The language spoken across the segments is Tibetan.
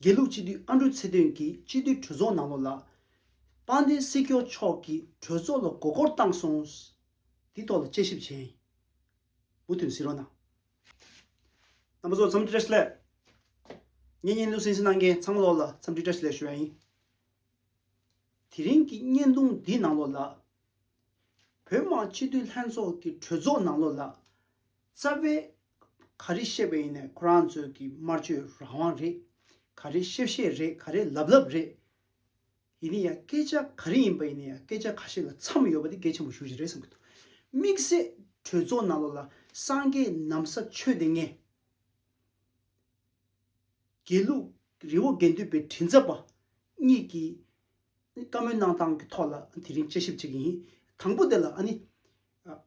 དགེ་ལུགས་སྤྱི་འཐུས་ཨ་འབྲུག་ཚེ་བརྟན་གྱིས་སྤྱི་འཐུས་གྲོས་ཚོགས་ནང་ལོགས་ལ། དཔལ་ལྡན་སྲིད་སྐྱོང་མཆོག་གིས་གྲོས་ཚོགས་ལ་མགོ་སྐོར་བཏང་སོང། དེའི་ཐོག་ལ་དཔྱད་ཞིབ་བྱས། མུ་མཐུད་ཟིན་རོགས་གནང། རྣམ་པ་ཚོ་འཚམས་འདྲི་བཀྲ་ཤིས་ལས། ངས་བརྙན་ལུས་ཟིན་ཟིན་གནང་མཁན་ཚང་མ་ལོགས་ལ་འཚམས་འདྲི་བཀྲ་ཤིས་ལས་ཞུ་བ་ཡིན། དེ་རིང་གི་བརྙན་ཐུང་འདི་ནང་ལོགས་ལ། བོད་དམག་སྤྱི་འཐུས་ལྷན་ཚོགས་ཀྱི་གྲོས་ཚོགས་ནང་ལོགས་ལ། རྩ་བའི་ག་རེ་བཤད་པ་ཡིན་ནས་ཁོ་རང་ཚོས་ཀྱི་དམར་གཅོད་རང་དབང་རེད་ག་རེ་བཤད་བཤད་རེད་ག་རེ་ལབ་ལབ་རེད། ཡིན་ནི་ཡ་སྐད་ཆ་ག་རེ་ཡིན་པ་ཡིན་ནི་ཡ་སྐད་ཆ་ག་ཞིག་ལ་མཚམས་ཡོད་པ་དེ་གལ་ཆེན་པོ་ཞུ་བཞིན་རེད་བསམ་གྱི་འདུག་དམིགས་བསལ་གྲོས་ཚོགས་ནང་ལོགས་ལ་སངས་རྒྱས་ནམ་ས་ཆོས་སྡེ་ལྔའི་དགེ་ལུགས་རི་བོ་དགེ་འདུན་པའི་དྲིན་ཚབ་པ་གཉིས་ཀྱིས་བཀའ་མོལ་གནང་སྟངས་ཀྱི་ཐོག་ལ་དེ་རིང་དཔྱད་ཞིབ་བྱེད་ཀྱི་ཡིན་དང་པོ་དེ་ལ་ཨ་ནི།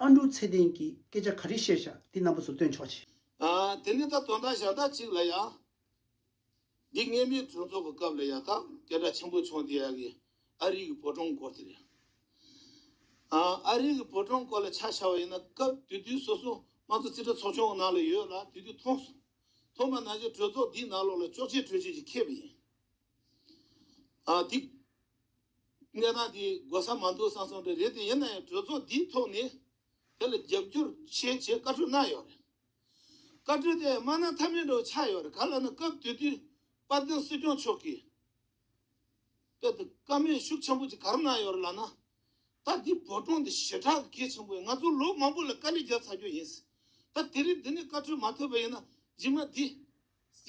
ཨ་འབྲུག་ཚེ་བརྟན་གྱིས་སྐད་ཆ་ག་རེ་བཤད་བྱ་དེ་རྣམ་པ་ཚོ་སྟོན་ཆོག་ཅིག། དེ་ནས་ད་དོན་དག་ཞག་དག་ཅིག་ལ་ཡང། འདི་སྔས་མའི་གྲོས་ཚོགས་ཀྱི་སྐབས་ལ་ཡང་དག་སྐད་གྲགས་ཆེན་པོ་བྱུང་དེ་ཡག་གི་ཨ་རིག་གི་བོད་གྲོང་སྐོར་དེ་རེད། ཨ་རིག་གི་བོད་གྲོང་སྐོར་ལ་ཆ་བཞག་པ་ཡིན་ན་སྐབས་དུས་དུས་སོ་སོ་ང་ཚོ་རྩིས་ཁྲ་ཚོགས་ཆུང་གི་ནང་ལ་ཡོད་ལ་དུས་དུས་མཐོང་སོང། མཐོང་པ་ནང་བཞིན་གྲོས་ཚོགས་འདིའི་ནང་ལོགས་ལ་ཅོག་ཅེ་གྲོས་ཆོད་ཅིག་ཁེལ་བ་ཡིན། འདི། གནས་སྟངས་འདི་གོ་ས་མ་འདུག་བསམ་སོང་པས་རེད་དེ་ཡིན་ན་ཡང་གྲོས་ཚོགས་འདིའི་ཐོག་ནས་དེ་ལ་རྒྱབ་སྐྱོར་བྱེད་ཅེས་བཀའ་འཁྲོལ་གནང་ཡོད་རེད། བཀའ་འཁྲོལ་དེ་སྨྲ་ན་མཐའ་མེད་འདྲ་བོ་ཆགས་ཡོད་རེད་ག་ལ་ན་སྐབས་དེ་དུས་དཔལ་ལྡན་སྲིད་སྐྱོང་མཆོག་གིས་དཔེ་དེབ་ཀ་མེད་ཤུགས་ཆེན་པོ་ཅིག་ག་རེ་གནང་ཡོད་རེད་ལ་ན། ད་འདི་བོད་གྲོང་འདི་ཞེ་དྲག་གི་གལ་ཆེན་པོ་ཡིན་ང་ཚོ་ལོ་མང་པོ་ལ་དཀའ་ལས་རྒྱབ་ཚར་རྒྱུ་ཡིན། ད་དེ་རིང་འདི་ནས་བཀའ་འཁྲོལ་མ་ཐོབ་པ་ཡིན་ན་རྗེས་མ་འདི།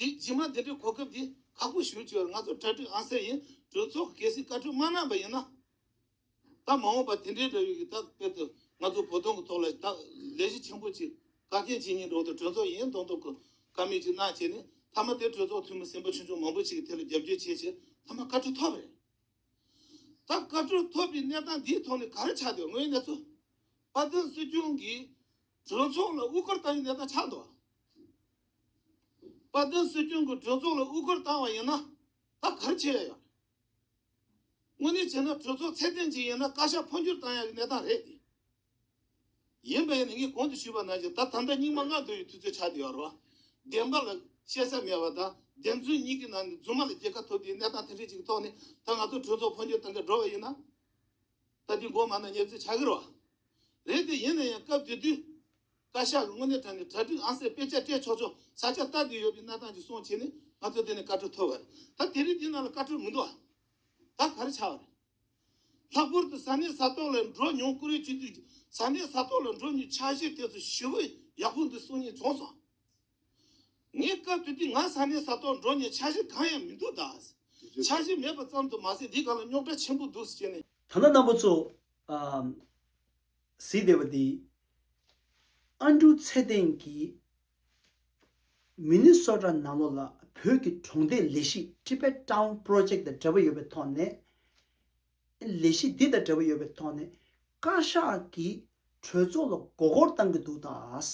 གཟི་བརྗིད་མ་འདི་འདྲའི་གོ་སྐབས་འདི་ཁག་པོ་ཞུ་བཅུག་ཡོད་ང་ཚོ་གྲ་སྒྲིག་ཨང་གསལ་ཡིན་གྲོས་ཚོགས་ཀྱི་གལ་སྲིད་བཀའ་ཁྲོལ་མ་གནང་པ་ཡིན་ན། ད་མ་འོངས་པ་དེ་འདྲའི་འདྲ་ཡོད་ཀྱི་ད་དཔེར་དུ་ང་ཚོ་བོ་དོང་གི་ཐོག་ལ་ད་ལས་གཞི་ཆེན་པོ་གཅིག་བཀའ་བསྟན་ཇི་སྙིད་འགྲོ་འདུག་གྲོས་ཚོགས་ཡིན་མདོག་མདོག་གི་ཀ་མེད་ཅིག་གནང་བྱས་ནས་ཐ་མ་དེ་གྲོས་ཚོགས་འཐུས་མི་སེམས་པ་ཆུང་ཆུང་མང་པོ་ཅིག་གི་ཐད་ལ་རྒྱབ་སྐྱོར་བྱས་ཕྱིར་ཐ་མ་བཀའ་ཁྲོལ་ཐོབ་རེད། ད་བཀའ་ཁྲོལ་ཐོབ་པའི་གནས་སྟངས་འདིའི་ཐོག་ནས་ག་རེ་ཆགས་འདུག་དངོས་གནས་ཚོ་བཀའ་བསྟན་སྲིད་སྐྱོང་གིས་གྲོས་ཚོགས་ལ་དབུ་སྐར་བཏང་བའི་གནས་སྟངས་ཆགས་འདུག་དཔལ་ལྡན་སྲོལ་རྒྱུན་གྱི་གྲོས་ཚོགས་ལ་དབུ་སྐོར་བཏང་བ་ཡིན་ན་ད་གར་ཆད་ཡོད། དངོས་གནས་བྱས་ན་གྲོས་ཚོགས་ཚད་ལྡན་ཅིག་ཡིན་ན་བཀའ་ཤག་འཕོ་འགྱུར་བཏང་ཡག་གི་གནས་སྟངས་རེད་དེ། ཡིན་པ་ཡིན་ན་ངས་གོང་དུ་ཞུས་པ་ནང་བཞིན་ད་དམ་བདག་རྙིང་མ་ལྔ་བསྡུ་བའི་དུས་ཚོད་ཆགས་བསྡད་ཡོད་རེད། བདེན་པ་ལ་བཤད་ས་མེད་པ་དང་བདེན་རྫུན་གཉིས་ཀྱི་ནང་ནས་རྫུན་མ་ལ་རྒྱལ་ཁ་ཐོབ་བསྡད་གནས་སྟངས་དེ་འདྲའི་ཅིག་གི་ཐོག་ནས་ད་ང་ཚོ་གྲོས་ཚོགས་འཕོ་འགྱུར་བཏང་གི་འགྲོ་བ་ཡིན་ན། ད་དེ་མགོ་མ་ནག་ཉེར་འཚོལ་བྱ་གི་རེད་བ། རེད་དེ་ཡིན་ན་ཡང་སྐབས་དེ་དུས། བཀའ་ཤག་གི་དངོས་གནས་དྲ་ནས་གྲ་སྒྲིག་ཨང་གསལ་དཔེ་ཆ་སྤྲད་ཆོག་ཆོག་ས་ཆ་བལྟ་དགོས་ཡོད་པའི་གནས་སྟངས་ཀྱི་སོང་ཆེད་ནས་ང་ཚོ་འདི་ནས་བཀའ་འཁྲོལ་ཐོབ་བ་རེད་ད་དེ་རིང་འདི་ནང་ལ་བཀའ་འཁྲོལ་མི་འདུག་ཨ་ད་ག་རེ་ཆགས་བ་རེད། ལྷག་པོར་དུ་ས་གནས་ས་ཐོག་ལ་འགྲོ་མྱོང་ཀུ་རེ་བྱེད་དུས་ཀྱི་ས་གནས་ས་ཐོག་ལ་འགྲོ་མྱོང་ཆགས་གཞི་དེ་ཚོ་ཞི་བུ་ཡག་པོ་འདུག་གསུང་ཉན་བྱུང་སོང། ངས་སྐབས་དེ་དུས་ང་ས་གནས་ས་ཐོག་འགྲོ་མྱོང་ཆགས་གཞི་གང་ཡང་མི་འདུག་གདའ། ཆགས་གཞི་མེད་པ་ཙམ་དུ་མ་ཟད་འདི་ག་ལ་རྙོག་དྲ་ཆེན་པོ་འདུག་ཟེར་ནས། ཐ་ན་རྣམ་པ་ཚོ། གཟིགས་བདེ་བ་འདི། ཨ་འབྲུག་ཚེ་བརྟན་གྱིས། མི་ནི་སོ་ཀྲ་ནང་ལོགས་ལ་བོད་ཀྱི་གྲོང་སྡེ་ལས་གཞི Tibet Town Project དང་འབྲེལ་བ་ཡོད་པའི་ཐོག་ནས། ལས་གཞི་འདི་དང་འབྲེལ་བ་ཡོད་པའི་ཐོག་ནས་བཀའ་ཤག་གི་གྲོས་ཚོགས་ལ་མགོ་སྐོར་བཏང་གི་འདུག་ད།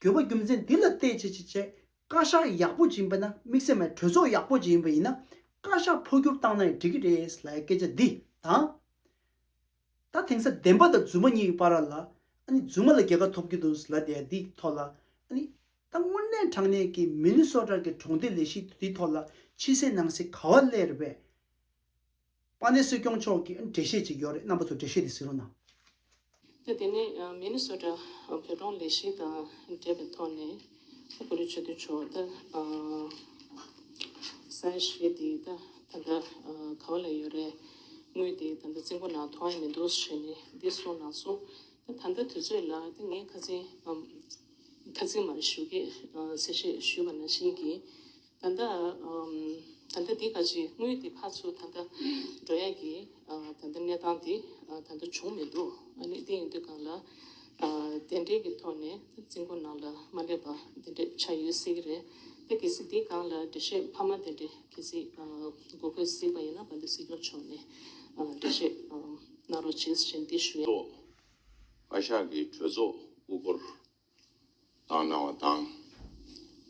འགྱོད་པ་རྒྱུ་མཚན་འདི་ལ་བལྟས་ཅི་བྱེད་བྱེད། བཀའ་ཤག་ཡག་པོ་སྦྱིན་པ་ན་དམིགས་བསལ་མེད་གྲོས་ཚོགས་ཡག་པོ་སྦྱིན་པ་ཡིན་ན། བཀའ་ཤག་འཕོ་འགྱུར་བཏང་ན་ཡང་འགྲིག་གི་རེད་ལ་སྐད་ཆ་འདི་དང། ད་དེང་སང་བདེན་པ་དང་རྫུན་མ་གཉིས་ཀྱི་བར་ལ། རྫུན་མ་ལ་རྒྱལ་ཁ་ཐོབ་ཀྱི་འདུག་ལ་དེ་འདི་ཐོག་ལ། ད་དངོས་གནས་དྲང་གནས་ཀྱི་མི་ནི་སོ་དྲག་གི་གྲོང་སྡེ་ལས་གཞི་འདི་ཐོག་ལ་ཕྱི་གསལ་ནང་གསལ་ག་བ་ཀླད་རེད་བས། པ་ནི་སྲིད་སྐྱོང་མཆོག་གིས་འགྲེལ་བཤད་བྱེད་ཀྱི་ཡོད་རེད་རྣམ་པ་ཚོ་འགྲེལ་བཤད་དེ་ཟིན་རོགས་གནང། ད་དེ་ནས Minnesota བོད་གྲོང་ལས་གཞི་དང་འབྲེལ་བའི་ཐོག་ནས་ཐུགས་ཁུར་ཆེ་བསྟོད་ཆོག་ད་གསལ་བཤད་དེ་ད་ད་ལྟ་ག་བ་ལ་ཡོད་རེད་དངུལ་དེ་ད་ལྟ་རྩིས་འགོ་ནང་ཐོང་མི་འདུག་ཟེར་ནས་འདི་སོང་ན་སོང་ད་ད་ལྟ་དུས་ཚོད་ལ་ད་ངས་ཁ་ཚིག་ཁ་ཚིག་མ་ཞུ་གི་ཟེར་བཤད་ཞུས་པ་ན་ཤིང་གིས་ད་ལྟ་ད་ལྟ་འདི་ག་ཅིག་དངུལ་དེ་ཁ་ཚུར་ད་ལྟ་འགྲོ་ཡས་ཀྱི་ད་ལྟ་གནས་སྟངས་དེ་ད་ལྟ་བྱུང་མི་འདུག་ཨ་ནི་དེ་ཡིན་དུས་གང་ལ་དེ་འབྲེལ་གྱི་ཐོག་ནས་རྩིས་འགོ་ནང་ལ་མ་སླེབས་པ་དེ་འདྲས་ཆགས་ཡོད་སྲིད་ཀྱི་རེད་དེ་གལ་སྲིད་དེ་གང་ལ་འགྲེལ་བཤད་ཕ་མ་དེ་འདྲས་གལ་སྲིད་དགོས་དགོས་སྲིད་པ་ཡིན་ན་བ་འདི་སྲིད་སྐྱོང་མཆོག་ནས་འགྲེལ་བཤད་གནང་རོགས་བྱེད་བཞིན་འདི་ཞུ། ཚོགས། བཀའ་ཤག་གི་གྲོས་ཚོགས་དབུ་སྐོར། བཏང་གནང་བ་དང།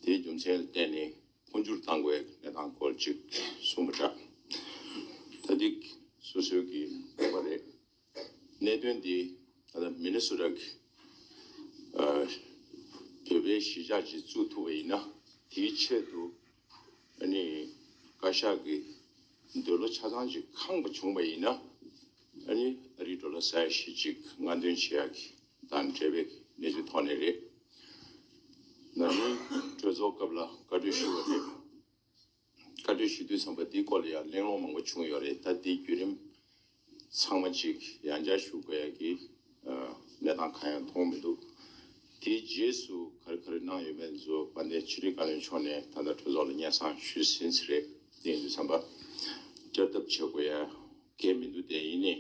དེའི་རྒྱུ་མཚན་ལ་བརྟེན་ནས་འཕོ་འགྱུར་བཏང་དགོས་པའི་གནས་སྟངས་སྐོར་ཅིག་གསུངས་པ་འདྲ། ད་ཐིག་སོ་སོའི་གིས་འདོད་པ་རེད། གནད་དོན་འདི་ད་ལྟ་མི་ནི་སུ་དག་གིས་བོད་པའི་གཞིས་ཆགས་ཀྱིས་བཙུགས་ཐུབ་པ་ཡིན་ན་དེའི་ཆེད་དུ་ཨ་ནི་བཀའ་ཤག་གིས་འདོད་བློ་ཆ་ཚང་ཅིག་ཁངས་པ་བྱུང་བ་ཡིན་ན་ཨ་ནི་ཨ་རིའི་འགྲོ་ལ་ཟ་ཡ་ཞིག་ཅིག་ང་འདོན་བྱེད་ཡག་གི་དང་འབྲེལ་བའི་གནས་ཚུལ་ཐོག་ནས་རེད། ང་ནི་གྲོས་ཚོགས་སྐབས་ལ་བཀའ་གྲོས་ཞུ་བ་རེད། བཀའ་གྲོས་ཞུ་དུས་ཚང་པ་འདིའི་སྐོར་ལ་ཡང་གླེང་སློང་མང་པོ་བྱུང་ཡོད་རེད་ད་ལྟའི་བརྒྱུད་རིམ་ཚང་མ་ཅིག་ཡང་བསྐྱར་ཞུ་དགོས་ཡག་གི་གནས་སྟངས་གང་ཡང་མཐོང་མི་འདུག་དེའི་རྗེས་སུ་ག་རེ་ག་རེ་གནང་ཡོད་མེད་བཟོ་པ་ནས་ཕྱི་དྲིལ་བཀའ་བློན་མཆོག་ནས་ད་ལྟ་གྲོས་ཚོགས་ལ་སྙན་གསང་ཞུ་ཟིན་ཚེ་རེད་གླེང་དུས་ཚང་པ་བསྐྱར་ལྡབ་བྱེད་དགོས་ཡག་གེ་མི་འདུག་དེ་ཡིན་ནི།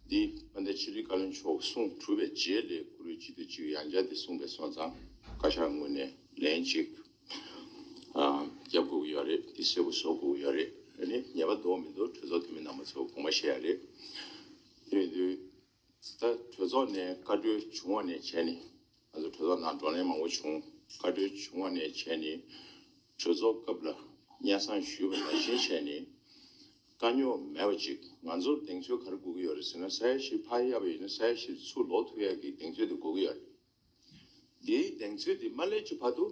འདི་དཔལ་ལྡན་ཆོས་རིག་བཀའ་བློན་མཆོག་གསུང་གྲུབ་པའི་རྗེས་ལས་གུ་རུའི་སྤྱི་ཏི་གཅིག་ཡང་བརྒྱ་འདི་གསུངས་པའི་སོང་ཙང་བཀའ་ཤག་ངོས་ནས་ལན་གཅིག་རྒྱབ་དགོས་ཀྱི་ཡོད་རེད་འདི་གསལ་པོ་བཟོ་དགོས་ཀྱི་ཡོད་རེད་ནི་ཉེས་པ་འདོགས་མི་འདོགས་གྲོས་ཚོགས་འཐུས་མི་རྣམ་པ་ཚོ་དགོངས་པ་བཞེས་ཡ་རེད་དེ་བས་དུས་ད་གྲོས་ཚོགས་ནས་བཀའ་འཁྲོལ་བྱུང་བ་ནས་བྱས་ནས། ང་ཚོའི་གྲོས་ཚོགས་ནང་བགྲོ་གླེང་མང་བོ་བྱུང། བཀའ་འཁྲོལ་བྱུང་བ་ནས་བྱས་ནས་གྲོས་ཚོགས་སྐབས་ལ་སྙན་གསང་ཞུས་པ་ནང་བཞིན་བྱས་ནས། དཀའ་རྙོག་མེད་པ་ཅིག་ང་ཚོར་གདེང་ཚོད་ག་རེ་དགོས་ཀྱི་ཡོད་རེད་ཟེར་ན་ས་ཡ་ཞིག་ཕར་གཡར་བ་ཡིན་ན་ས་ཡ་ཞིག་ཚུར་ལོག་ཐུབ་ཡག་གི་གདེང་ཚོད་དེ་དགོས་ཀྱི་ཡོད་རེད། དེའི་གདེང་ཚོད་དེ་མ་སླེབས་ཀྱི་བར་དུ་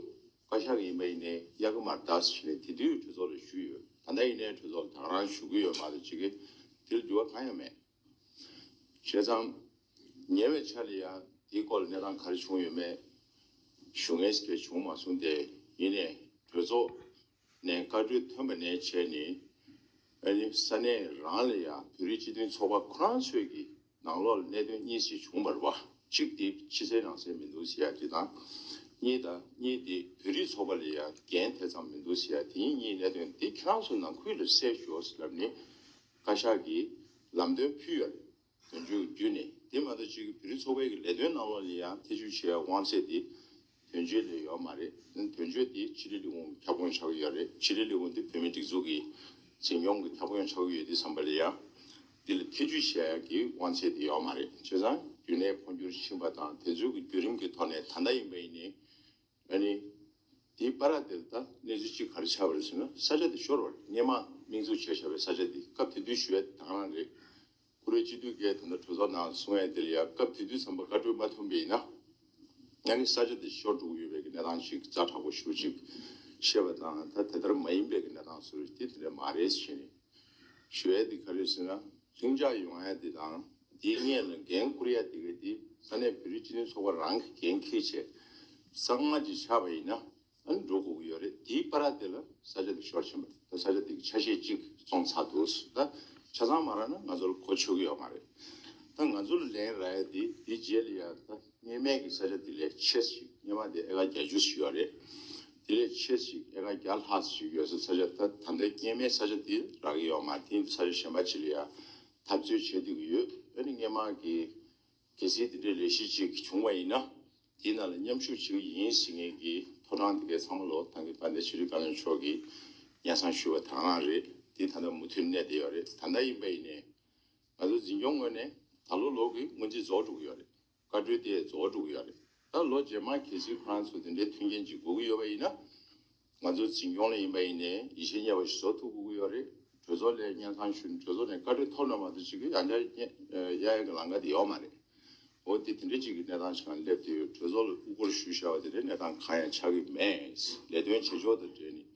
བཀའ་ཤག་གི་ཡིན་པ་ཡིན་ནའི་གཡག་གི་མར་དྭགས་སུ་བྱས་ནས་དེ་དུས་གྲོས་ཚོགས་ལ་ཞུས་ཡོད་ད་ལྟ་ཡིན་ནའི་གྲོས་ཚོགས་ལ་དྭགས་རང་ཞུ་གི་ཡོད་མ་གཏོགས་ཅི་གི་དེ་ལ་འགྱུར་བ་གང་ཡང་མེད། བྱས་ཙང། ཉེ་བའི་ཆར་ལ་ཡང་དེའི་སྐོར་ལ་གནས་སྟངས་ག་རེ་བྱུང་ཡོད་མེད་ཞུ་ངེས་ཞིག་བྱུང་མ་སོང་སྟེ་ཡིན་ནས་གྲོས་ཚོགས་ནས་བཀའ་འཁྲོལ་ཐོན་པ་ནས་བྱས་ནས་ས་གནས་རང་ལ་ཡང་བོད་རིགས་སྤྱི་མཐུན་ཚོགས་པ་ཁོ་རང་ཚོས་ཀྱི་ནང་ལོགས་ལ་གནད་དོན་གཉིས་ཞིག་བྱུང་བར་བ་གཅིག་དེ་ཕྱི་གསལ་ནང་གསལ་མི་འདུག་ཟེར་ཡ་དེ་དང། གཉིས་དང་གཉིས་དེ་བོད་རིགས་ཚོགས་པ་ལ་ཡང་འགན་དེ་ཙམ་མི་འདུག་ཟེར་ཡ་དེ་གཉིས་གཉིས་གནད་དོན་དེ་ཁྱེད་རང་ཚོ་ནང་ཁུལ་ལ་གསལ་ཞོག་ཟེར་ལབ་ནས་བཀའ་ཤག་གིས་ལམ་སྟོན་ཕུལ་ཡོད་རེད། དོན་གཅོད་ཀྱི་བརྒྱུད་ནས་དེ་མ་གཏོགས་སྤྱི་འཐུས་བོད་རིགས་ཚོགས་པའི་གི་ལས་དོན་གནང་བ་ལ་ཡང་ཐེ་བྱུས་བྱེད་ཡའི་དབང་ཚད་དེ་དོན་གཅོད་ལས་ཡོད་མ་རེད་དོན་གཅོད་དེ་ཕྱི་ལི་ལི་ཧུང་གི་ཁྱབ་ཁོངས་ཆགས་ཀྱི་ཡོད་རེད་ཕྱི་ལི་ལི་ཧུང་དེ་བོད་མི་སྒྲིག་འཛུགས་ཀྱི་འཛིན་སྐྱོང་གི་ཁྱབ་ཁོངས་ཆགས་ཀྱི་ཡོད་དུས་བསམ་པ་ལ་ཡང་དེ་ལ་ཐེ་བྱུས་བྱེད་ཡའི་གི་དབང་ཚད་དེ་ཡོད་མ་རེད་བྱས་ཙང་རྒྱུན་ལས་འཕོ་འགྱུར་ཕྱིན་པ་དང་དེ་ཚོའི་གི་བརྒྱུད་རིམ་གི་ཐོག་ནས་ད་ལྟ་ཡིན་པ་ཡིན་ནའི་ང་ནི། དེའི་པཱ་ར་དེར་དང་གནས་ཚུལ་ཅི་གར་ཆགས་པ་རེད་ཟེར་ན་ས་ཆ་དེ་ཤོར་བ་རེད་སྙེ་མ་མིང་ཚུགས་བྱས་བཞག་པའི་ས་ཆ་དེ་སྐབས་དེ་དུས་ཞུ་བའི་དང་རང་རེད། བཀུར་འོས་སྤྱི་འཐུས་འགས་ད་ལྟ་གྲོས་ཚོགས་ནང་གསུང་བའི་དེར་ཡང་སྐབས་དེ་དུས་ཚངས་པ་བཀའ་འཁྲོལ་མ་ཐོན་པས་ཡིན་ན། ང་ནི་ས་ཆ་དེ་ཤོར་འགྲོ་གི་ཡོད་པའི་གི་གནས་སྟངས་ཤིག་རྩ་དྲག་པོ་ཞུ་ཅིག་ཤེས་པ་དང་ད་དེ་ལྟར་མ་ཡིན་པའི་གི་གནས་སྟངས་སུ་རེད་དེ་དེ་འདྲ་མ་རེད་ཟེར་ནས་ཞུ་བའི་དེ་ག་རེད་ཟེར་ན། ལྷིང་འཇགས་ཡོང་ཡ་དེ་དང་དེའི་སྔས་ལ་འགན་འཁུར་ཡ་དེ་ག་དེ་ས་གནས་བོད་རིགས་སྤྱི་མཐུན་ཚོགས་པ་རང་གི་འགན་ཁེ་བྱས་ས་སྔ་རྗེས་ཆགས་པ་ཡིན་ན་འགྲོ་དགོས་ཀྱི་ཡོད་རེད་དེའི་པ་ར་དེ་ལ་ས་ཆ་དེ་ཤོར་ཕྱིན་པ་རེད་ད་ས་ཆ་དེ་གི་ཆ་ཤས་གཅིག་བཙོང་ཚར་འདུག་ཟེར་ད་ཆ་ཚང་མ་ར་ན་ང་ཚོ་ལ་གོ་ཆོད་ཀྱི་ཡོད་མ་རེད་ད་ང་ཚོ་ལ་ལན་ར་ཡ་དེ་དེའི་རྗེས་ལ་ཡ་ད། ངེས་མེད་ཀྱི་ས་ཆ་དེ་ལས་ཆེ་ས་ཞིག་སྙེ་མ་དེ་ཨེ་ཀ་བརྒྱ་བཅུ་ཞིག་ཡོད་རེད། དེ་ལས་ཆེ་ས་ཞིག་ཨེ་ཀ་བརྒྱ་ལྷག་ས་ཞིག་ཡོད་ས་ས་ཆ་ད་ད་ལྟའི་སྐྱེས་མའི་ས་ཆ་དེ་རག་གི་ཡོད་མ་དེ་ས་ཆ་གཞན་པ་ཆེ་ལ་ཡང་འཐབ་རྩོད་བྱེད་འདོད་ཀྱི་ཡོད་འོན་ཏེ་སྙེ་མ་གི་གལ་སྲིད་དེ་འདྲའི་ལས་གཞི་ཅིག་བྱུང་བ་ཡིན་ན་དེའི་ནང་ལ་མཉམ་ཞུགས་བྱེད་ཀྱི་ཡིན་ཟེར་མཁན་གྱི་ཕོ་བྲང་དེ་གའི་ཚང་མ་ལོ་ཐང་གི་དཔལ་ལྡན་ཤེས་རིག་བཀའ་བློན་མཆོག་གིས་སྙན་གསང་ཞུས་པ་དག་རང་རེད་དེ་ད་ད་མུ་མཐུད་གནས་བསྡད་ཡོད་རེད་ད་ད་ཡིན་པ་ཡིན་ནས། ང་ཚོའི་འཛིན་སྐྱོང་ངོས་ནས་ད་ལོ་ལོག་གི་སྔོན་རྩིས་རྫོགས་འགྲོ་གི་ཡོད་རེད། བཀའ་འཁྲོལ་དེ་རྫོགས་འགྲོ་གི་ཡོད་རེད། ད་ལོ་རྗེས་མར་གལ་སྲིད་ཁོ་རང་ཚོ་དེ་འདྲའི་མཐུན་རྐྱེན་ཅིག་དགོས་ཀྱི་ཡོད་པ་ཡིན་ན། ང་ཚོའི་འཛིན་སྐྱོང་ལས་ཡིན་པ་ཡིན་ནས་ཡིད་ཆེས་ཉེ་བ་ཞིག་བཟོ་ཐུབ་དགོས་ཀྱི་ཡོད་རེད། གྲོས་ཚོགས་ལས་སྙན་ཐང་ཞུ་ནས་གྲོས་ཚོགས་ནས་བཀའ་འཁྲོལ་ཐོབ་ན་མ་གཏོགས་ཅིག་ཡང་བསྐྱར་གཡས་གཡོན་གྱི་ལང་ཀ་དེ་ཡོད་མ་རེད། འོ་དེ་དེ་འདྲའི་ཅིག་གི་གནས་སྟངས་ཤིག་ང་སླེབས་དུས་གྲོས་ཚོགས་ལ་དབུ་སྐོར་ཞུ་བཞག་པ་དེ་འདྲའི་གནས་སྟངས་གང་ཡང་ཆགས་ཀྱི་མེད། ལས་དོན་བྱེད་ཕྱོགས་དང་འབྲེལ་ནས།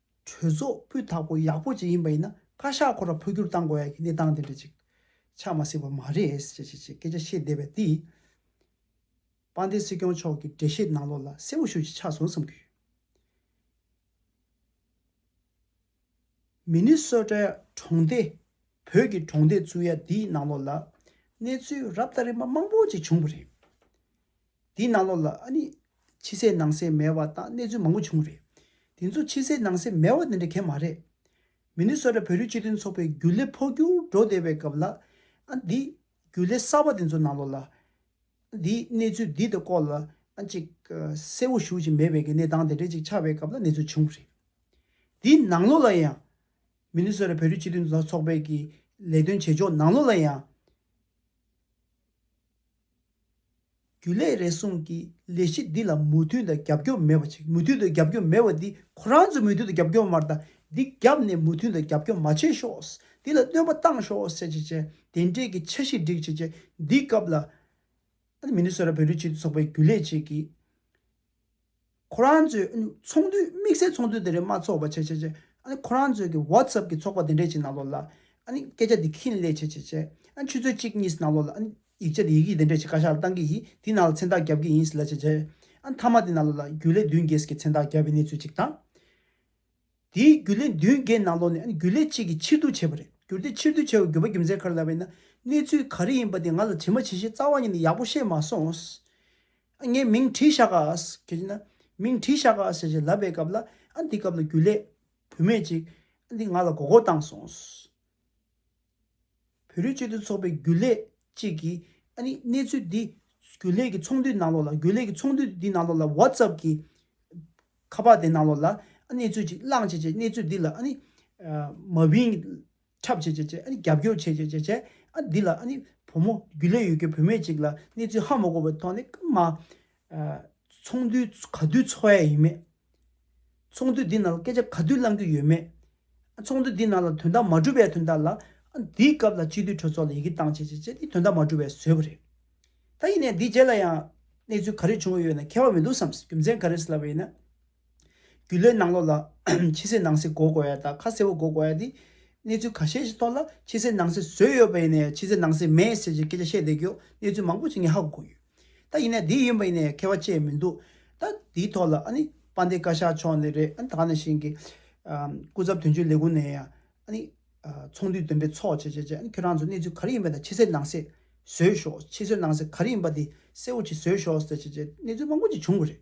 གྲོས་ཚོགས་སྤུས་དག་པོ་ཡག་པོ་ཅིག་ཡིན་པ་ཡིན་ན་བཀའ་ཤག་ཁོ་རང་འཕོ་འགྱུར་གཏང་དགོས་ཡ་གི་གནས་སྟངས་དེ་འདྲ་ཅིག་ཆགས་མ་སྲིད་པ་མ་རེད་ཅེས་ཅེས་ཅེས་སྐད་ཆ་བཤད་བསྡད་པས་དེ་དཔའ་འདེད་སྲིད་སྐྱོང་མཆོག་གི་འགྲེལ་བཤད་གནང་ལོག་ལ་གསལ་བོ་ཞུ་ཅིག་ཆགས་སོང་བསམ་གྱི་ཡོད། མི་ནི་སོ་ཀྲའི་གྲོང་སྡེ་བོད་ཀྱི་གྲོང་སྡེ་བཙུགས་ཡ་དེའི་གནང་ལོག་ལ་གནས་ཚུལ་རབ་དང་རིམ་པ་མང་པོ་ཅིག་བྱུང་བ་རེད། དེའི་ནང་ལོགས་ལ་ཨ་ནི། ཕྱི་གསལ་ནང་གསལ་མེད་བ་དང་གནས་ཚུལ་མང་པོ་བྱུང་བ་རེད། དེ་ཚོ་ཕྱི་གསལ་ནང་གསལ་མེད་བ་དེ་འདྲ་གལ་མ་རེད། མི་ནུས་སོ་ར་བོད་རིགས་སྤྱི་མཐུན་ཚོགས་པའི་རྒྱུ་ལས་འཕོ་འགྱུར་འགྲོ་བསྡད་པའི་སྐབས་ལ། ཨ་འདི། རྒྱུ་ལས་གསར་བ་དེ་ཚོ་ནང་ལོགས་ལ། ཨ་འདི་གནས་ཚུལ་འདི་དང་སྐོར་ལ་ཨ་ཅིག། གསལ་བོ་ཞུ་བཞིན་མེད་བས་ཀྱི་གནས་སྟངས་དེ་འདྲ་ཅིག་ཆགས་པའི་སྐབས་ལ་གནས་ཚུལ་བྱུང་བ་རེད། དེའི་ནང་ལོགས་ལ་ཡང། མི་ནུས་སོ་ར་བོད་རིགས་སྤྱི་མཐུན་ཚོགས་པའི་ཀྱི་ལས་དོན་བྱེད་ཕྱོགས་ནང་ལོགས་ལ་ཡང། རྒྱུ་ལས་རེ་ཟུང་གིས་ལས་གཞི་འདི་ལ་མུ་མཐུད་དང་རྒྱབ་སྐྱོར་མེད་པ་ཞིག་མུ་མཐུད་དུ་རྒྱབ་སྐྱོར་མེད་པ་འདི་ཁོ་རང་ཚོས་མུ་མཐུད་དུ་རྒྱབ་སྐྱོར་མར་དང་འདི་བརྒྱབ་ནས་མུ་མཐུད་དུ་རྒྱབ་སྐྱོར་མ་བྱེད་ཤོག་འདི་ལ་སྟོན་པ་བཏང་ཤོག་ཟེར་བྱས་བྱས་དེ་འབྲེལ་གྱི་འཆར་གཞི་སྒྲིག་བྱས་བྱས་འདིའི་སྐབས་ལ། ཨ་ནི་མི་ནི་སོ་ར་བོད་རིགས་སྤྱི་མཐུན་ཚོགས་པའི་རྒྱུ་ལས་བཅས་ཀྱིས། ཁོ་རང་ཚོའི་ཚོགས་འདུ་དམིགས་བསལ་ཚོགས་འདུ་དེ་རིང་མ་འཚོགས་པ་བྱས་བྱས་བྱས། ཁོ་རང་ཚོའི་གི་བྷོད་སཱབ་ཀྱི་ཚོགས་པ་དེ་འདྲས་ཅིག་གནང་ལོ་ལ། སྐད་ཆ་དེ་ཁིན་ལེ་བྱས་བྱས་བྱས། ཆུ་ཚོད་གཅིག་གཉིས་གནང་ལོ་ལ། ཡིག་ཆ་དེ་ཡི་གེ་དེ་འདྲས་ཅིག་བཀའ་ཤག་ལ་བཏང་གི་ཡིན་དེའི་ནང་ལ་མཚན་རྟགས་བརྒྱབ་ཀྱི་ཡིན་ལ་བྱས་བྱས། མཐའ་མ་དེ་གནང་ལོ་ལ་རྒྱུ་ལས་བདུན་རྒྱས་ཀྱི་མཚན་རྟགས་བརྒྱབ་པའི་གནས་ཚུལ་ཅིག་དང། དེའི་རྒྱུ་ལས་མདུན་བསྐྱེད་ནང་ལོགས་ནས་རྒྱུ་ལས་གཅིག་གིས་ཕྱིར་བསྡུ་བྱས་པ་རེད་གྱུར་ཏེ་ཕྱིར་བསྡུ་བྱས་བའི་རྒྱུ་བ་རྒྱུ་མཚན་ག་རེ་ལབ་པ་ཡིན་ན་གནས་ཚུལ་ག་རེ་ཡིན་པ་དེ་ང་ལ་དྲི་མ་ཇི་བཞིན་རྩ་བ་ཉིད་ནས་ཡག་པོ་ཤེས་མ་སོང། ངས་མིང་བྲིས་བཞག་ག་གལ་ཆེ་ན། མིང་བྲིས་བཞག་ག་ཞེས་ལབ་པའི་སྐབས་ལ་འདི་སྐབས་ལ་རྒྱུ་ལས་བུད་མེད་ཅིག་འདི་ང་ལ་མགོ་སྐོར་བཏང་སོང། བོད་རིགས་སྤྱི་མཐུན་ཚོགས་པའི་རྒྱུན་ལས་གཅིག་གིས་ཨ་ནི་གནས་ཚུལ་འདི་རྒྱུན་ལས་ཀྱི་ཚོགས་འདུའི་ནང་ལོགས་ལ་རྒྱུན་ལས་ཀྱི་ཚོགས་འདུ་འདི་ནང་ལོགས་ལ WhatsApp གི་ཁ་པར་དེ་ནང་ལོགས་ལ་ཨ་གནས་ཚུལ་ཅིག་བླངས་བྱས་བྱས་གནས་ཚུལ་འདི་ལ་ཨ་ནི་མ་བིན་འཁྲབ་བྱས་བྱས་བྱས་ཨ་ནི་རྒྱབ་སྐྱོར་བྱས་བྱས་བྱས་བྱས་ཨ་འདི་ལ་ཨ་ནི་བུ་མོ་རྒྱུན་ལས་ཡོད་རྒྱུ་བུད་མེད་ཅིག་ལ་གནས་ཚུལ་ཧ་མ་གོ་བའི་ཐོག་ནས་ཀུན་མ་ཚོང་འདུས་ག་དུས་འཚོག་ཡ་ཡིན་མེད། ཚོང་འདུས་འདི་ནང་ལ་སྐད་ཆ་ག་དུས་གླང་རྒྱུ་ཡོད་མེད། ཚོང་འདུས་འདི་ནང་ལ་དོན་དག་མ་གྲུབ་པའི་དོན་དག་ལ། འདིའི་སྐབས་ལ་སྤྱི་འཐུས་གྲོས་ཚོགས་ལ་ཡི་གེ་བཏང་བྱས་བྱས་བྱས་ཏེ་དོན་དག་མ་གྲུབ་པའི་བཟོས་པ་རེད། ད་ཡིན་ནས་འདིའི་རྗེས་ལ་ཡང་གནས་ཚུལ་ག་རེ་བྱུང་ཡོད་ན་མཁས་པ་མི་འདུག་བསམ་སྲིད་རྒྱུ་མཚན་ག་རེ་སླ་བ་ཡིན་ན། རྒྱུ་ལས་ནང་ལོགས་ལ་ཕྱི་གསལ་ནང་གསལ་གོ་དགོས་ཡ་ད་ཁ་གསལ་བོ་གོ་དགོས་ཡ་དེ། གནས་ཚུལ་ག་ཤེད་ཞིག་ཐོག་ལ་ཕྱི་གསལ་ནང་གསལ་བཟོས་ཡོད་པ་ཡིན་ནའི་ཕྱི་གསལ་ནང་གསལ་མེད་ཟེར་གྱི་སྐད་ཆ་བཤད་བསྡད་རྒྱུ་གནས་ཚུལ་མང་པོ་ཞིག་ངས་ཧ་གོ་གོ་ཡོད། ད་ཡིན་ནའི་འདི་ཡིན་པ་ཡིན་ནའི་མཁས་བ་ཆེ་མི་འདུག་ད་དེའི་ཐོག་ལ་ཨ་ནི་དཔའ་འདེ་བཀའ་ཤག་མཆོག་ནས་རེད་ཨ་ནི་ད་ནས་བཞིན་གྱི། སྐུ་ཚབ་དོན་གཅོད་ལས་ཁུངས་ནས་ཡ་ཨ་ནི། ཚོགས་འདུའི་འདོན་པའི་ཚོགས་བྱས་བྱས་བྱས་ཨ་ནི་ཁྱོད་རང་ཚོ་གནས་ཚུལ་ག་རེ་ཡིན་པ་ད་ཕྱི་གསལ་ནང་གསལ་བཟོས་ཤོག་ཕྱི་གསོལ་ནང་གསལ་ག་རེ་ཡིན་པ་དེ་གསལ་བོ་ཞིག་བཟོས་ཤོག་ཟེར་བྱས་བྱས་གནས་ཚུལ་མང་པོ་ཞིག་བྱུང་གི་རེད།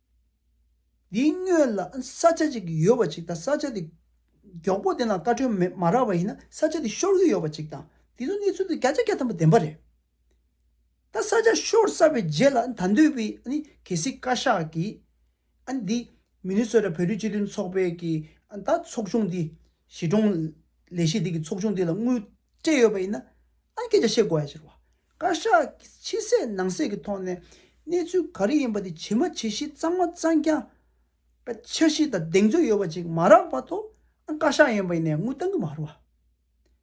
འདིའི་སྙོད་ལ་ས་ཆ་གཅིག་ཡོད་པ་གཅིག་དང་ས་ཆ་དེ་མགྱོགས་པོ་དེ་ནང་བཀའ་ཁྲོལ་མ་རག་པ་ཡིན་ན་ས་ཆ་དེ་ཤོར་གྱི་ཡོད་པ་གཅིག་དང་དེ་ཚོ་གནས་ཚུལ་དེ་བརྒྱ་ཆ་བརྒྱ་ཐམ་པ་བདེན་པ་རེད། ད་ས་ཆ་ཤོར་ས་པའི་རྗེས་ལ་ད་འདོད་པའི་གལ་སྲིད་བཀའ་ཤག་གིས་འདི་མི་ནུས་སོ་ད་བོད་རིགས་སྤྱི་མཐུན་ཚོགས་པའི་གི་ད་ཚོགས་ཆུང་འདི་གཞིས་གྲོང་ལས་གཞི་འདི་གི་ཚོགས་ཆུང་འདི་ལ་དངུལ་སྤྲད་ཡོད་པ་ཡིན་ན་ཨང་སྐད་ཆ་བཤད་དགོས་ཡ་ཕྱིར་བ། བཀའ་ཤག་གིས་ཕྱི་གསལ་ནང་གསལ་གྱི་ཐོག་ནས་གནས་ཚུལ་ག་རེ་ཡིན་པ་དེ་ཇི་མ་ཇི་བཞིན་གཙང་མ་གཙང་རྐྱང་འཆར་གཞི་དང་གདེང་ཚོད་ཡོད་པ་ཅིག་མ་རག་པ་ཐོག་ཨང་བཀའ་ཤག་ཡིན་པ་ནས་དངུལ་བཏང་གི་མ་རུང་བ།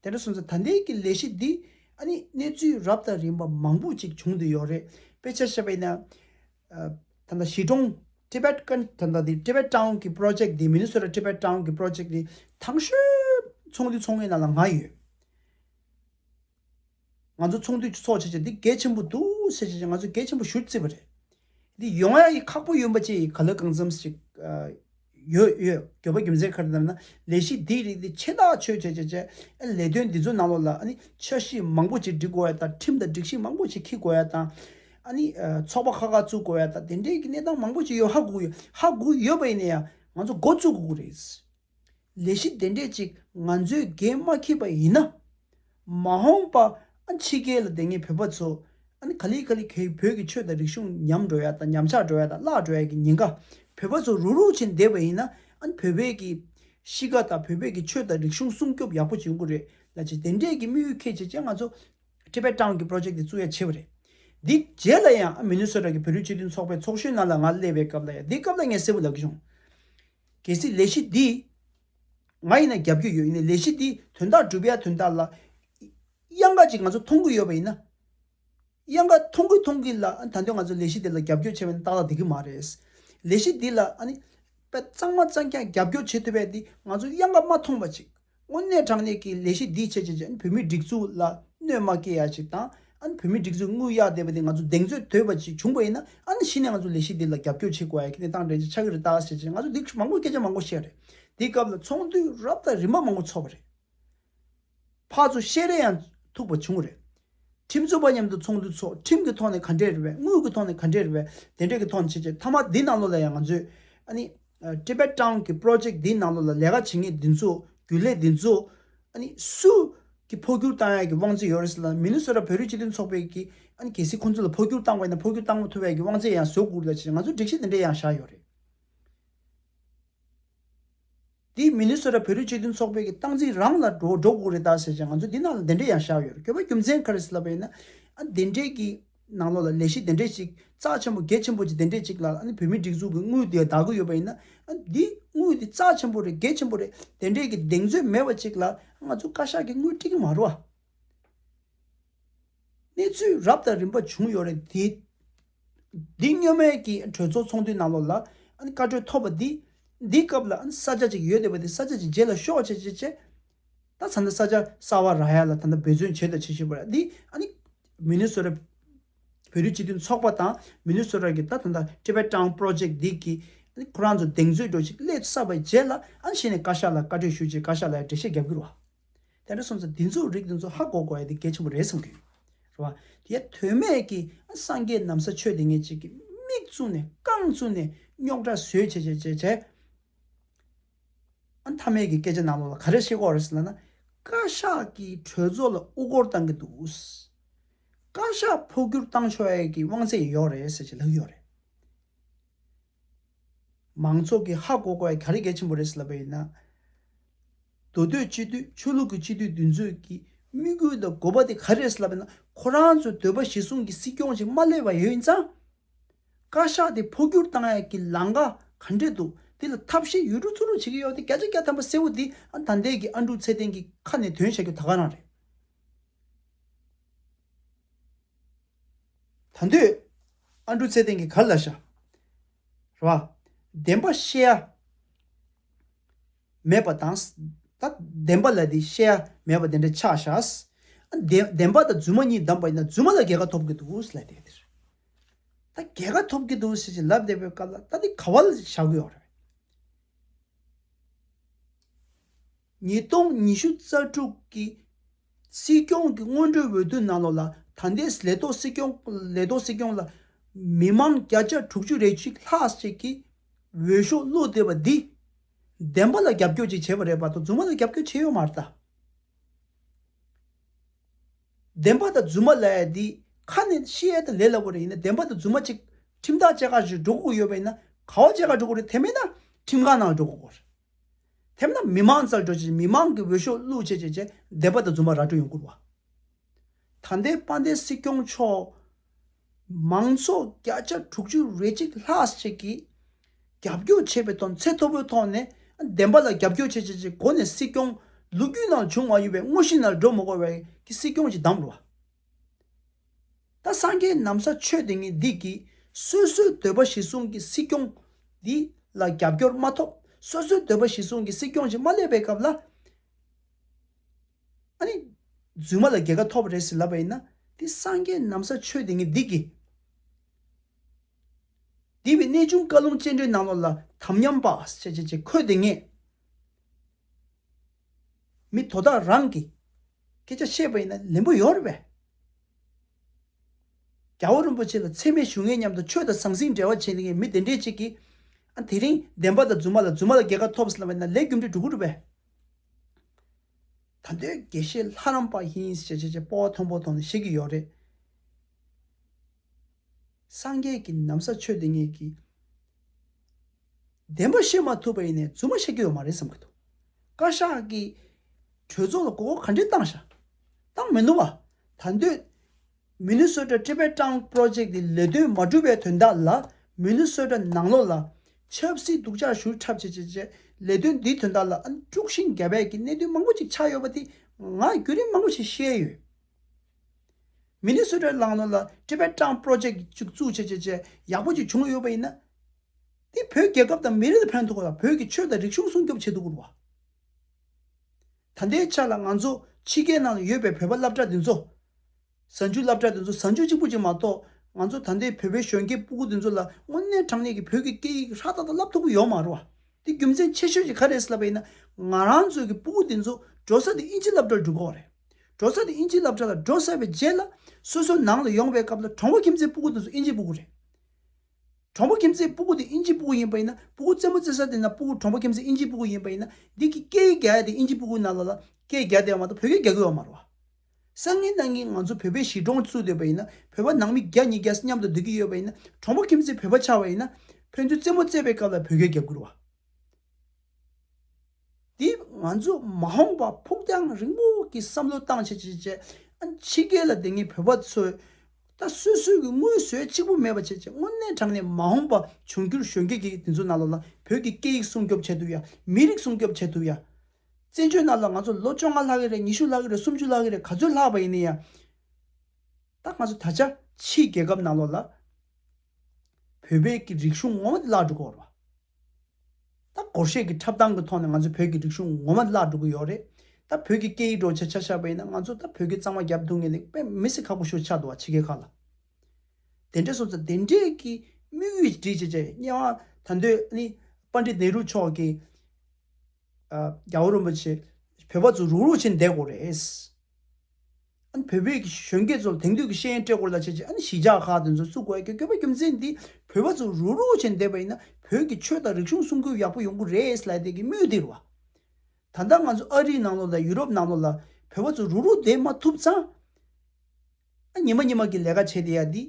དེ་འདྲ་སོང་ཚེ་ད་ལྟའི་གི་ལས་གཞི་འདི་ཨ་ནི་གནས་ཚུལ་རབ་དང་རིམ་པ་མང་པོ་ཅིག་བྱུང་འདི་ཡོད་རེད་དཔེ་ཆ་བཤད་པ་ཡིན་ན། ད་ལྟ་ཞི་གྲོང Tibet ཀན་ད་ལྟ་འདི Tibet Town གི Project འདི Minnesota Tibet Town གི Project འདི་ཐང་ཤོད་ཚོང་འདི་ཚོང་གི་ནང་ལ་ང་ཡོད། ང་ཚོ་ཚོང་དུད་ཀྱི་ཚོགས་བྱས་རྗེས་འདི་གལ་ཆེན་པོ་འདུག་བྱས་རྗེས་ང་ཚོས་གལ་ཆེན་པོ་ཞུ་བརྩིས་པ་རེད། འདི་ཡོང་ཡ་ཡི་ཁག་པོ་ཡོད་པ་བཅས་ཡི་ག་ལོས་གང་འཚམས་ཤིག་ཡོད་ཡོད་གྱོད་པ་རྒྱུ་མཚན་ཁ་རི་ལྟར་ན་ལས་གཞི་འདིའི་རིགས་འདི་ཆེས་ཐག་ཆོད་བྱས་རྗེས་བཅས་ཡ་ལས་དོན་འདི་ཚོ་ནང་ལོགས་ལ་ཨ་ནི་འཆར་གཞི་མང་པོ་ཅིག་འབྲི་དགོས་ཡ་དང་ཁྲིམས་དང་སྒྲིག་གཞི་མང་པོ་ཅིག་འཁྱིལ་དགོས་ཡ་དང། ཨ་ནི་ཚོགས་པ་ཁག་ཁག་བཙུགས་དགོས་ཡ་དང་དེ་འདྲའི་གི་གནས་སྟངས་མང་པོ་ཅིག་ཡོད་ཧ་གོ་གི་ཧ་གོ་གི་ཡོད་པ་ཡིན་ན་ཡང་ང་ཚོ་འགོ་བཙུགས་དགོས་ཀྱི་རེད། ལས་གཞི་དེ་འདྲས་ཅིག་ང་ཚོའི་འགན་མ་འཁྱེར་པ་ཡིན་ན། མ་འོངས་པ་ཕྱི་རྒྱལ་ལ་བསྡད་མཁན་བོད་པ་ཚོ་ག་ལི་ག་ལི་གེའི་བོད་ཀྱི་ཆོས་དང་རིག་གཞུང་ཉམས་འགྲོ་ཡ་དང་ཉམས་ཆག་འགྲོ་ཡ་དང་བརླག་འགྲོ་ཡ་གི་ཉེན་ཁ་བོད་པ་ཚོ་རུག་རུག་བྱེད་བསྡད་པ་ཡིན་ན་བོད་པའི་གི་གཤིས་ཀ་དང་བོད་པའི་གི་ཆོས་དང་རིག་གཞུང་སྲུང་སྐྱོབ་ཡག་པོ་བྱེད་དགོས་རེད་ལ་ཅི་དེ་འདྲས་ཀྱི་དམིགས་ཡུལ་ཁས་བྱེད་ཅེས་ང་ཚོ Tibet Town གི Project དེ་བཙུགས་ཡ་བྱས་པ་རེད། དེའི་རྗེས་ལ་ཡང Minnesota གི་བོད་རིགས་སྤྱི་མཐུན་ཚོགས་པའི་ཚོགས་གཞོན་ནང་ལ་ང་སླེབས་པའི་སྐབས་ལ་ཡང་དེའི་སྐབས་ལ་ངས་གསལ་པོ་ལབ་ཀྱི་བྱུང། གལ་སྲིད་ལས་གཞི་འདི། ང་ཡིན་ན་རྒྱབ་སྐྱོར་ཡོད་ཡིན་ནའི་ལས་གཞི་འདི་དོན་དག་སྒྲུབ་ཡ་དོན་དག་ལ། གཡང་དཀར་གྱིས་ང་ཚོ་མཐོང་གི་ཡོད་པ་ཡིན་ན། གཡང་དཀར་མཐོང་གི་མཐོང་གི་ལ་ཨ་ནི་ད་དོན་ང་ཚོ་ལས་གཞི་འདི་ལ་རྒྱབ་སྐྱོར་བྱེད་པ་ནི་ཏག་ཏག་འདི་གི་མ་རེད། ལས་གཞི་འདི་ལ་ཨ་ནི། པད་གཙང་མ་གཙང་ཀྱང་རྒྱབ་སྐྱོར་བྱེད་ཐུབ་པའི་འདི་ང་ཚོ་གཡང་དཀར་མ་མཐོང་པ་ཅིག་དངོས་གནས་དྲང་གནས་ཀྱི་ལས་གཞི་འདིས་བྱས་བྱས་བྱས་བོད་མིའི་སྒྲིག་འཛུགས་ལ་གནོད་མ་སྐྱེལ་ཡ་ཞིག་དང་ཨང་བོད་མིའི་སྒྲིག་འཛུགས་དངུལ་གཡར་བསྡད་པ་དེ་ང་ཚོ་གདེང་ཚོད་དོད་པ་ཞིག་བྱུང་བ་ཡིན་ན་ཨང་གཞི་ནས་ང་ཚོ་ལས་གཞི་འདི་ལ་རྒྱབ་སྐྱོར་བྱེད་དགོས་ཡ་ཁྱེད་ནས་ཏང་ཀྲེན་ཅེ་ཆགས་ཀྱི་རེད་ད་ཞེས་བྱས་ང་ཚོ་འདི་མང་པོ་སྐད་ཆ་མང་པོ་བཤད་རེད་འདི་སྐབས་ལ་ཚོགས་འདུས་རབ་དང་རིམ་པ་མང་པོ་ཚོགས་པ་རེད་ཕ་ཚོ་བཤད་རེས་ཡང་ཐུག་པ་བྱུང་རེད་ཁྲིམས་རྩོད་པ་མཉམ་དུ་ཚོགས་འདུ་ཚོགས་ཁྲིམས་ཀྱི་ཐོག་ནས་ག་འདྲས་རེད་བས་དངུལ་གྱི་ཐོག་ནས་ག་འདྲས་རེད་བས་དེ་འདྲས་ཀྱི་ཐོག་ནས་བྱེད་ཅེས་མཐའ་མ་འདི་ནང་ལོགས་ལ་ཡང་ང་ཚོས་ཨ་ནི། Tibet Town། གྱི Project འདིའི་ནང་ལོགས་ལ་ལས་ཀ་བྱེད་ངེས་འདི་ཚོ་རྒྱུན་ལས་འདི་ཚོ་ཨ་ནི། སུ། ཀྱི་འཕོ་འགྱུར་བཏང་ཡག་གི་དབང་ཚད་ཡོད་རེད་ཟེར་ལ་མི་ནུ་སོ་ར་བོད་རིགས་སྤྱི་མཐུན་ཚོགས་པས་ཀྱི་ཨ་ནི་གལ་སྲིད་ཁོང་ཚོ་ལ་འཕོ་འགྱུར་བཏང་དགོས་ན་འཕོ་འགྱུར་བཏང་མ་ཐུབ་ཡག་གི་དབང་ཚད་ཡང་བཟོ་དགོས་རེད་ལ་བྱས་ང་ཚོ་སྒྲིག་གཞི་འདི་འདྲས་ཡང་བཞག་ཡོད་རེད། འདི་མི་ནུས་སོ་ར་བོད་རིགས་སྤྱི་མཐུན་ཚོགས་པའི་ཀྱི་སྟངས་འཛིན་རང་ལ་འགྲོ་འགྲོ་དགོས་རེད་ད་ཟེར་ཅང་ང་ཚོ་འདི་ནང་ལ་འདི་འདྲས་ཡང་བཞག་ཡོད་རེད་ཁྱོད་པ་རྒྱུ་མཚན་ག་རེ་ཟེར་ལབ་པ་ཡིན་ན་ཨ་འདི་འདྲས་ཀྱི་ནང་ལོག་ལ་ལས་གཞི་འདི་འདྲས་ཅིག་རྩ་ཆེན་པོ་གེགས་ཆེན་པོ་ཅིག་འདི་འདྲས་ཅིག་ལ་ཨ་ནི་བོད་མིའི་སྒྲིགས་འཛུགས་ཀྱི་དངུལ་དེ་ད་གི་ཡོད་པ་ཡིན་ན་ཨ་འདི་དངུལ་འདི་རྩ་ཆེན་པོ་རེད་གེགས་ཆེན་པོ་རེད་འདི་འདྲས་ཀྱི་གདེང་ཚོད་མེད་པ་ཅིག་ལ་ཨ་ང་ཚོ་བཀའ་ཤག་གི་དངུལ་སྤྲིད་ཀྱི་མ་རུ་ཨ། གནས་ཚུལ་རབ་དང་རིམ་པ་བྱུང་ཡོད་རེད། འདི་སྔོན་མའི་གི་གྲོས་ཚོགས་ཚོགས་འདུའི་ནང་ལོགས་ལ་བཀའ་གྲོས་ཐོབ་པ་འདི་འདི་སྐབས་ལ་ས་ཆ་ཅིག་ཡོད་བསྡད་པ་དེ་ས་ཆ་ཅིག་བརྗེ་ལ་ཤོག་བྱས་བྱས་བྱས། ད་ས་མཐའ་ས་ཆ་གསར་བ་རག་ཡ་ལ་ད་མཐའ་འབད་བརྩོན་བྱས་དང་བྱེད་བཞིན་པ་རེད་འདི་ཨ་ནི་མི་ནུས་སོ་ར་བོད་རིགས་སྤྱི་མཐུན་ཚོགས་པ་དང་མི་ནུས་སོ་ར་གི་ད་ད་ད Tibet Town Project འདི་གི་ཨ་ནི་ཁོ་རང་ཚོ་གདེང་ཚོད་སྒྲོག་ཅིག་སླེབས་ས་བ་བྱས་ལ་ཨ་ནི་ཤེས་ནས་བཀའ་ཤག་ལ་བཀའ་གྲོས་ཞུ་ཅིག་བཀའ་ཤག་ལ་ཡང་འགྲེལ་བཤད་རྒྱབ་རྒྱུར་བ། དེ་འདྲ་སོང་ཚེ་འདི་ཚོ་རིགས་འདི་ཚོ་ཧ་གོ་གོ་ཡ་འདི་གལ་ཆེན་པོ་རེད་བསམ་གི་ཡོད་རེད་བ། དེ་ཡ་དོན་མེད་ཀྱི་སངས་རྒྱས་ནམ་ས་ཆོས་དེ་ངས་ཅིག་གི་མིག་བཙུམ་ནས་རྐང་བཙུམ་ནས་རྙོག་དྲ་བཟོས་བྱས་བྱས་བྱས་བྱས། ཨ་མཐའ་མེད་ཀྱི་སྐད་ཆ་ནང་ལོགས་ལ་ག་རེ་བཤད་གོ་རེད་ཟེར་ན་ན། བཀའ་ཤག་གིས་གྲོས་ཚོགས་ལ་དབུ་སྐོར་བཏང་གི་འདུག། བཀའ་ཤག་འཕོ་འགྱུར་བཏང་ཆོག་ཡ་གི་དབང་ཚད་ཡོད་རེད་ཟེར་བྱས་ལབ་ཡོད་རེད། མང་ཚོགས་ཀྱིས་ཧ་གོ་གོ་ག་རེ་གལ་ཆེན་པོ་རེད་ཟེར་ལབ་པ་ཡིན་ན། མདོ་སྟོད་སྤྱི་འཐུས་ཆོས་ལུགས་ཀྱི་སྤྱི་འཐུས་འདི་ཚོས་ཀྱི་དམིགས་ཡུལ་དང་དགོས་པ་དེ་ག་རེ་རེད་ཟེར་ལབ་པ་ཡིན་ན་ཁོ་རང་ཚོས་འདོད་པ་བཞི་བཟུང་གི་སྲིད་སྐྱོང་ཞིག་མ་སླེབས་པ་ཡོད་ན་ཚང། བཀའ་ཤག་དེ་འཕོ་འགྱུར་བཏང་ཡག་གི་ལང་ག་ག་འདྲེ་འདུག་དེ་ལ་ཐབས་ཤེས་ཡུལ་གྲུ་ཚུར་རུ་བྱེད་ཀྱི་ཡོད་དེ་བརྒྱ་ཆ་བརྒྱ་ཐམ་པ་གསལ་བོ་འདི་ཨ་ད་འདས་ཀྱི་ཨ་འབྲུག་ཚེ་བརྟན་གྱི་ཁ་ནས་དོན་བྱ་རྒྱུ་ད་ག་རང་རེད། ད་འདོད། ཨ་འབྲུ་ཚེ་བརྟན་གྱི་གར་ལ་བཞག། རེ་བ། བདེན་པ་བཤད་ཡ། མེད་པ་དང། ད་བདེན་པ་ལ་དེ་བཤད་ཡ་མེད་པ་དེ་འདྲ་ཆགས་བཞག། བདེན་པ་དང་རྫུན་མ་གཉིས་བསྡམས་པ་ཡིན་ན་རྫུན་མ་ལ་རྒྱལ་ཁ་ཐོབ་ཀྱི་འདུག་ལབ་བསྡད་ཀྱི་རེད། ད་རྒྱལ་ཁ་ཐོབ་ཀྱི་འདུག་ཟེར་བཞིན་ལབ་བསྡད་པའི་སྐབས་ལ་ད་དེ་ག་བ་ལ་བཞག་གི་ཡོད་རེད། ཉིས་སྟོང་ཉི་ཤུ་རྩ་དྲུག་གི་སྲིད་སྐྱོང་གི་སྔོན་འགྲོའི་འོས་བསྡུ་གནང་ལོ་ལ་ད་ལྟའི་ལས་ཐོག་སྲིད་སྐྱོང་ལས་ཐོག་སྲིད་སྐྱོང་ལ་མི་མང་བརྒྱ་ཆ་དྲུག་ཅུ་རེ་གཅིག་ལྷག་ཅིག་གིས་འོས་ཤོག་བླུགས་བསྡད་པ་འདིས། བདེན་པ་ལ་རྒྱབ་སྐྱོར་ཅིག་བྱས་པ་རེད་པ་དང་རྫུན་མ་ལ་རྒྱབ་སྐྱོར་བྱས་ཡོད་མ་རེད། བདེན་པ་དང་རྫུན་མ་ལས་འདི་ཁ་ནས་བཤད་ཡས་དང་ལས་སླ་བོ་རེད་ཡིན་ན་བདེན་པ་དང་རྫུན་མ་གཅིག་ཁྲིམས་ཐག་བཅད་ཁ་ཞིག་འགྲོ་དགོས་ཡོད་པ་ཡིན་ན་ག་བ་བཅད་ཁ་འགྲོ་དགོས་རེད་དེ་མེད་ན་ཁྲིམས་ཁང་ནང་འགྲོ་དགོས་རེད། དེ་མིན་ན་མི་མང་རྩ་འགྲོས་ཀྱིས་མི་མང་གི་འོས་ཤོག་བླུག་བྱེད་ཅེས་བྱས་བསྡད་པ་དང་རྫུན་པ་ར་སྤྲོད་ཡོང་བསྐུར་བ། ད་ལྟའི་དཔའ་ལྡན་སྲིད་སྐྱོང་མཆོག་མང་ཚོགས་བརྒྱ་ཆ་དྲུག་ཅུ་རེ་གཅིག་ལྷག་ཅིག་གིས་རྒྱབ་སྐྱོར་བྱས་པའི་དོན་ཚད་མཐོ་པོའི་ཐོག་ནས་བདེན་པ་ལ་རྒྱབ་སྐྱོར་བྱེད་ཅེས་ཀྱི་སྒོ་ནས་སྲིད་སྐྱོང་ལུགས་རྒྱུད་ནང་བྱུང་མ་ཡོད་པའི་དངོས་གཞི་ནར་སྒྲོ་མི་གོ་བའི་སྲིད་སྐྱོང་གྱི་གདམས་བར། ད་སངས་རྒྱས་ནམ་ས་ཆོས་དེ་ཉིད་སྡིག་གིས་སོ་སོའི་འདོད་པ་གཞི་བཟུང་གི་སྲིད་སྐྱོང་འདི་ལ་རྒྱབ་སྐྱོར་མ་ཐོབ་སོ་སོའི་འདོད་པ་གཞི་བཟུང་གི་སྲིད་སྐྱོང་ཞིག་མ་སླེབས་པའི་སྐབས་ལ། རྫུན་མ་ལ་རྒྱལ་ཁ་ཐོབ་རེ་ཟིག་ལབ་པ་ཡིན་ན་དེ་སངས་རྒྱས་ནམ་ས་ཆོས་དེ་ཉིད་སྡིག་གིས། འདི་བའི་གནས་ཆུང་བཀའ་ལུང་སྤྱན་འདྲེན་ནང་ལོགས་ལ་དམ་ཉམས་པ། ཁོས་དེ་ངས། མི་དོ་བདག་རང་གིས་སྐད་ཆ་བཤད་པ་ཡིན་ན་ལན་པོ་ཡོད་རེད་པས། རྒྱ་བོད་རིན་པོ་ཆེ་ལ་འཚེ་མེད་ཞུ་ངེས་སྙམ་དུ་ཆོས་དང་ཟང་ཟིང་འབྲེལ་བ་བྱེད་མཁན་མི་དེ་འདྲས་ཅིག་གིས། ཨ་དེ་རིང་བདེན་པ་དང་རྫུན་མ་ལ་རྫུན་མ་ལ་རྒྱལ་ཁ་ཐོབ་ཟེར་ལབ་པ་ཡིན་ན་ལས་རྒྱུ་འབྲས་འགྲུབ་གི་འགྲུབ་པས། ད་འདོད་དགེ་བཤེས་ལྷ་རམས་པ་ཡིན་ཞེས་བྱས་བྱས་སྤོ་བ་མཐོན་པོ་ཐོག་ནས་བཤད་ཀྱི་ཡོད་རེད། སངས་རྒྱས་ཀྱི་ནམ་ས་ཆོས་དེ་ཉིད་ཀྱི་བདེན་པ་ཤེས་མ་ཐུབ་པ་ཡིན་ནས་རྫུན་མ་བཤད་རྒྱུ་ཡོད་མ་རེད་བསམ་གྱི་འདུག་བཀའ་ཤག་གིས་གྲོས་ཚོགས་ལ་གོ་སྐོར་ག་འདྲའི་བཏང་ཤག་བཏང་མི་ནུས་པ་ད་འདོད Minnesota Tibet Tongue Project དེ་ལས་དོན་མ་བསྒྲུབས་པའི་དོན་དག་ལ Minnesota ནང་ལོགས་ལ་ཆབ་སྲིད་སྡུག་ཅག་ཞུ་འཁྲབ་བྱེད་བྱེད་བྱེད་ལས་དོན་འདིའི་དོན་དག་ལ་ཨ་ནི་དཀྲུགས་ཤིང་རྒྱ་བལ་གྱི་གནད་དོན་མང་པོ་ཅིག་ཆགས་ཡོད་པ་དེ་ང་རྒྱུད་རིམ་མང་པོ་ཞིག་ཤེས་ཡོད། མི་ནི་སུ་རེད་ལགས་ནོར་ལ་ཀྲི་བེད་ཀྲང་པྲོ་ཇེག་ཅིག་བཙུགས་བྱས་བྱས་བྱས་ཡག་པོ་ཅིག་བྱུང་ཡོད་པ་ཡིན་ན། དེ་བོད་རྒྱལ་ཁབ་དང་མི་རིགས་ལ་ཕན་ཐོགས་ལ་བོད་ཀྱི་ཆོས་དང་རིག་གཞུང་སྲུང་སྐྱོབ་བྱེད་དུ་འུར་བ། ད་ལྟའི་ཆ་ལ་ང་ཚོ་ཕྱི་རྒྱལ་ནང་ལ་ཡོད་པའི་བོད་པ་བླ་བྲག་འདི་ཚོ། གཟའ་མཇུག་བླ་བྲག་འདི་ཚོ་གཟའ་མཇུག་གཅིག་པུ་ཅིག་མ་གཏོགས་ང་ཚོ་ད་ལྟའི་བོད་པའི་གཞོན་སྐྱེས་སྤུ་གུ་འདི་ཚོ་ལ་དངོས་གནས་དྲང་གནས་ཀྱི་བོད་ཀྱི་སྐད་ཡིག་ཧྲག་ཐག་དང་བསླབ་ཐུབ་པོ་ཡོད་མ་རུང་བ། དེ་རྒྱུ་མཚན་ཆེ་ཤོས་ཅིག་ག་རེད་ཟེར་ལབ་པ་ཡིན་ན། ང་རང་ཚོའི་གི་སྤུ་གུ་འདི་ཚོ་འགྲོ་ས་དེ་དབྱིན་ཇི་བླ་བྲག་ལ་འགྲོ་དགོས་བ་རེད། འགྲོ་ས་དེ་དབྱིན་ཇིའི་རླབས་ཆ་ལ་འགྲོ་ས་བའི་རྗེས་ལ། སོ་སོའི་ནང་ལ་ཡོང་བའི་སྐབས་ལ་གྲོང་པོ་ཁྱིམ་མཚེས་སྤུ་གུ་དེ་ཚོ་དབྱིན་ཇིའི་སྤུ་གུ་རེད། གྲོང་པོ་ཁྱིམ་མཚེས་སྤུ་གུ་དེ་དབྱིན་ཇིའི་སྤུ་གུ་ཡིན་པ་ཡིན་ན་སྤུ་གུ་རྩེད་མོ་རྩེ་ས་དེ་ན་སྤུ་གུ་གྲོང་པོ་ཁྱིམ་མཚེས་དབྱིན་ཇིའི་སྤུ་གུ་ཡིན་པ་ཡིན་ན། འདི་སྐད་སྐད་ཡིག་རྒྱ་ཡིག་དེ་དབྱིན་ཇིའི་སྤུ་གུ་ནང་ལ་ལ་སྐད་ཡིག་རྒྱ་དེ་ཡང་མ་གཏོགས་བོད་སྐད་རྒྱ་གུ་ཡོད་མ་རུང། སང་ཉིན་ད་ངེས་ང་ཚོ་བོད་པའི་གཞིས་གྲོང་བཙུགས་འདོད་པ་ཡིན་ན་བོད་པ་ནང་མི་བརྒྱ་གཉིས་བརྒྱ་མཉམ་དུ་སྡོད་ཀྱི་ཡོད་པ་ཡིན་ན་གྲོང་པོ་ཁྱིམ་མཚེས་བོད་པ་ཆགས་པ་ཡིན་ན། ཕན་ཚུན་རྩེད་མོ་རྩེས་པའི་སྐབས་ལ་བོད་སྐད་རྒྱ་གུ་རུང་བ། དེས་ང་ཚོས་མ་འོངས་པར་ཕུགས་རྒྱང་རིང་པོ་གི་བསམ་བློ་གཏང་བྱེད་ཅིག་བྱེད། ཕྱི་རྒྱལ་ལ་དེ་སྔའི་བོད་པ་ཚོས་ད་གསོད་སྲོལ་གྱི་དངུལ་བཟོས་གཅིག་པུ་མེད་པ་བྱེད་ཅིག་དངོས་གནས་དྲང་ནས་མ་འོངས་པར་འབྱུང་འགྱུར་གཞོན་སྐྱེས་ཀྱི་དེ་ཚོ་རྣ་ལོག་ལ་བོད་ཀྱི་སྐད་ཡིག་སྲུང་སྐྱོབ་བྱེད་ཐུབ་ཡ་མི་རིགས་སྲུང་སྐྱོབ་བྱེད་ཐུབ་ཡ། བཙན་བྱོལ་ནང་ལ་ང་ཚོ་ལོ་བཅོ་ལྔ་ལྷག་གི་རེད་ཉི་ཤུ་ལྷག་གི་རེད་སུམ་ཅུ་ལྷག་གི་རེད་ག་ཚོད་ལྷག་པ་ཡིན་ནི་ཡ། ད་ང་ཚོ་ད་ཆ་ཕྱིའི་རྒྱལ་ཁབ་རྣ་ལོག་ལ་བོད་པའི་ཀྱི་རིག་གཞུང་ངོ་མ་དེ་བརླག་འགྲོ་གོ་རོ། ད་སྒོར་གཞས་ཀྱི་འཁྲབ་སྟངས་ཀྱི་ཐོག་ནས་ང་ཚོའི་བོད་ཀྱི་རིག་གཞུང་ངོ་མ་བརླག་འགྲོ་གི་ཡོད་རེད། ད་བོད་ཀྱི་སྐད་ཡིག་སྒྲོག་བྱེད་ཆ་ཆག་པ་ཡིན་ན་ང་ཚོ་ད་བོད་སྐད་གཙང་མ་རྒྱབ་འདུག་ངེས་ལེགས་དཔེ་མི་སྲིད་ཁག་པོ་ཤོར་ཆག་འདུག་བ་ཕྱི་རྒྱལ་ཁག་ལ། དེ་འདྲས་སོང་ཙང་དེ་འདྲས་ཀྱི་དམིགས་ཡུལ་འདྲིས་བྱེད་ཅེས་དམྱལ་བ་ད་འདོད་ནི་དཔའ་འདྲེ་ནེ་རུ་མཆོག་གིས། རྒྱ་བོད་རིན་པོ་ཆེ་བོད་པ་ཚོ་རུག་རུག་བྱེད་བསྡད་དགོས་རེད། ཨ་བོད་པའི་གཞོན་སྐྱེས་ཚོ་ལ་དེང་དུས་ཀྱི་ཤེས་ཡོན་སྤྲད་དགོས་རེད་ལ་བྱས་རྗེས་ཨ་ནི་ཞི་འཇགས་ཁག་དེ་ཚོ་བཙུགས་དགོས་རྒྱུ་བ་རྒྱུ་མཚན་དེ་བོད་པ་ཚོ་རུག་རུག་བྱེད་བསྡད་པ་ཡིན་ན་བོད་ཀྱི་ཆོས་དང་རིག་གཞུང་སྲུང་སྐྱོབ་ཡག་པོ་ཡོང་གི་རེད་ལ་དེ་གི་མུས་དེ་རུ། ད་ལྟ་ང་ཚོ་ཨ་རིའི་ནང་ལོགས་ལ་ཡུ་རོབ་ནང་ལོགས་ལ་བོད་པ་ཚོ་རུག་རུག་བསྡད་མ་ཐུབ་ཙང། ཉི་མ་གཉིས་མ་གི་ལས་ཀ་བྱེད་དེ་ཡག་འདི།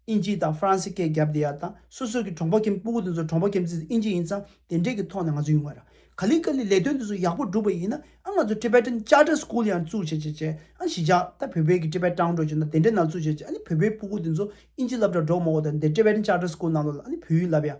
ཨིན་ཇི་དང་ཧྥ་རན་སི་སྐད་རྒྱབ་དེ་ཡག་དང་སོ་སོ་གི་གྲོང་པ་ཁྱིམ་སྤུ་གུ་དེ་ཚོ་གྲོང་པ་ཁྱིམ་མཚེས་ཨིན་ཇི་ཡིན་ཙང་དེ་འདྲས་ཀྱི་ཐོག་ནས་ང་ཚོ་ཡོང་བ་ར་ག་ལི་ག་ལི་ལས་དོན་དེ་ཚོ་ཡག་པོ་སྒྲུབ་པ་ཡིན་ན་ཨ་ང་ཚོ Tibetan Charter School ཡང་བཙུགས་བྱེད་བྱེད་བྱེད་ཨ་ཞི་ཇག་ད་བོད་པའི་གི Tibet དྲང་འགྲོ་བྱེད་ན་དེ་འདྲས་ནང་བཙུགས་བྱེད་བྱེད་ཨ་ནི་བོད་པའི་སྤུ་གུ་དེ་ཚོ་ཨིན་ཇི་ལབ་དྲ་འགྲོ་མོ་གོ་ད་འདས Tibetan Charter School ནང་དུ་ལ་ཨ་ནི་བོད་ཡིག་ལབ་ཡག་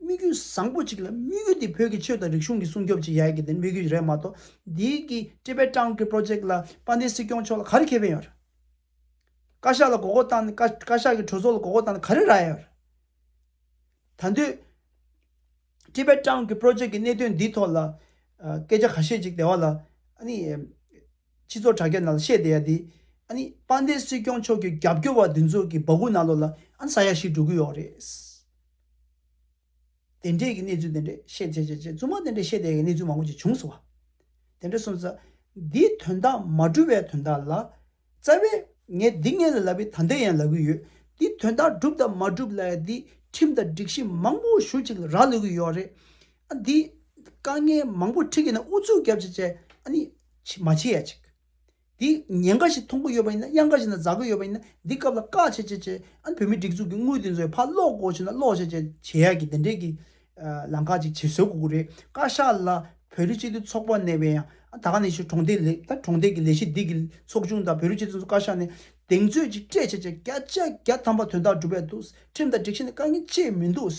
དམིགས་ཡུལ་བཟང་པོ་ཅིག་ལ་དམིགས་ཡུལ་དེ་བོད་ཀྱི་ཆོས་དང་རིག་གཞུང་གི་སྲུང་སྐྱོབ་ཅིག་ཡག་གི་དེ་དམིགས་ཡུལ་རེད་མ་གཏོགས་འདི་གི་ཀྲི་པེ་ཀྲང་གི་པྲོ་ཇེག་ལ་དཔལ་ལྡན་སྲིད་སྐྱོང་མཆོག་ལ་ག་རེ་ཁེ་ཕན་ཡོད་ར། བཀའ་ཤག་ལ་དགོ་དགོ་བཏང་ནས་བཀའ་ཤག་གི་གྲོས་ཚོགས་ལ་དགོ་དགོ་བཏང་ནས་ག་རེ་ར་ཡོད་ར། ད་འདོད་ཀྲི་པེ་ཀྲང་གི་པྲོ་ཇེག་གི་གནད་དོན་འདི་ཐོག་ལ་སྐད་ཆ་ག་ཤེད་ཅིག་དེ་བ་ལ་ཨ་ནི་སྤྱི་ཚོགས་དྲ་རྒྱ་ནང་ལ་བཤད་བསྡད་ཡ་དེ་ཨ་ནི་དཔལ་ལྡན་སྲིད་སྐྱོང་མཆོག་གི་རྒྱབ་སྐྱོར་བ་དེ་ཚོ་གི་བ་གུ་ན་ལོ་ལ་ཨ་ནི་ས་ཡ་ཞིག་འགྲོ་གི་ཡོག་རེད། དེ་འདྲའི་གི་གནས་ཚུལ་དེ་འདྲའི་ཤེས་བྱེད་བྱེད་བྱེད་རྩུབ་མོ་དེ་འདྲའི་ཤེས་བྱེད་ཀྱི་གནས་ཚུལ་མང་པོ་ཅིག་བྱུང་སོང་བ། དེ་འདྲའི་གསུངས་ས། འདིའི་དོན་དག་མ་བསྒྲུབས་པའི་དོན་དག་ལ། རྩ་བའི། ངས་འདི་ངས་ལ་ལབ་པའི་ད་འདི་ཡང་ལབ་གི་ཡོད། འདིའི་དོན་དག་བསྒྲུབས་དང་མ་བསྒྲུབས་ལ་ཡང་འདིས་ཁྲིམས་དང་སྒྲིག་གཞི་མང་པོ་ཞུ་ཅིག་ལ་རག་ལུས་ཀྱི་ཡོད་རེད། ཨ་འདིས། དཀའ་ངལ་མང་པོ་ཁྲིད་ཀྱི་ན་ཨུ་ཚུགས་རྒྱབ་བྱེད་བྱེད་ཨ་ནི། མ་བྱེད་ཡ་ཅིག། འདི་ཉེན་ཁ་ཞིག་མཐོང་གི་ཡོད་པ་ཡིན་ན་གཡང་ཁ་ཞིག་ན་འཛག་གི་ཡོད་པ་ཡིན་ན་འདི་སྐབས་ལ་དཀའ་ཆེ་ཆེ་ཆེ་ཨ་བོད་མི་སྒྲིག་འཛུགས་ཀྱི་དངུལ་དེ་ཚོའི་ཕར་སློག་གོ་ཞེ་ན་སློག་བྱེད་བྱེད་བྱེད་ཡག་གི་དེ་འདྲས་ཀྱི་ལམ་ཁ་ཅིག་བྱེད་བཟོད་དགོས་ཀྱི་རེད་བཀའ་ཤག་ལ་བོད་རིགས་སྤྱི་མཐུན་ཚོགས་པ་ནས་བས་ཡང་ད་ག་ནས་ཤི་གྲོང་སྡེ་ལས་ད་གྲོང་སྡེ་གི་ལས་གཞི་འདི་གི་ཚོགས་ཆུང་དང་བོད་རིགས་སྤྱི་མཐུན་ཚོགས་བཀའ་ཤག་ནས་གདེང་ཚོད་ཅིག་སྤྲད་བྱེད་བྱེད་བརྒྱ་ཆ་བརྒྱ་ཐམ་པ་དོན་དག་སྒྲུབ་པས་འདུག་ཁྲིམས་དང་སྒྲིག་གཞི་ནི་དཀའ་ངལ་ཅི་མི་འདུག།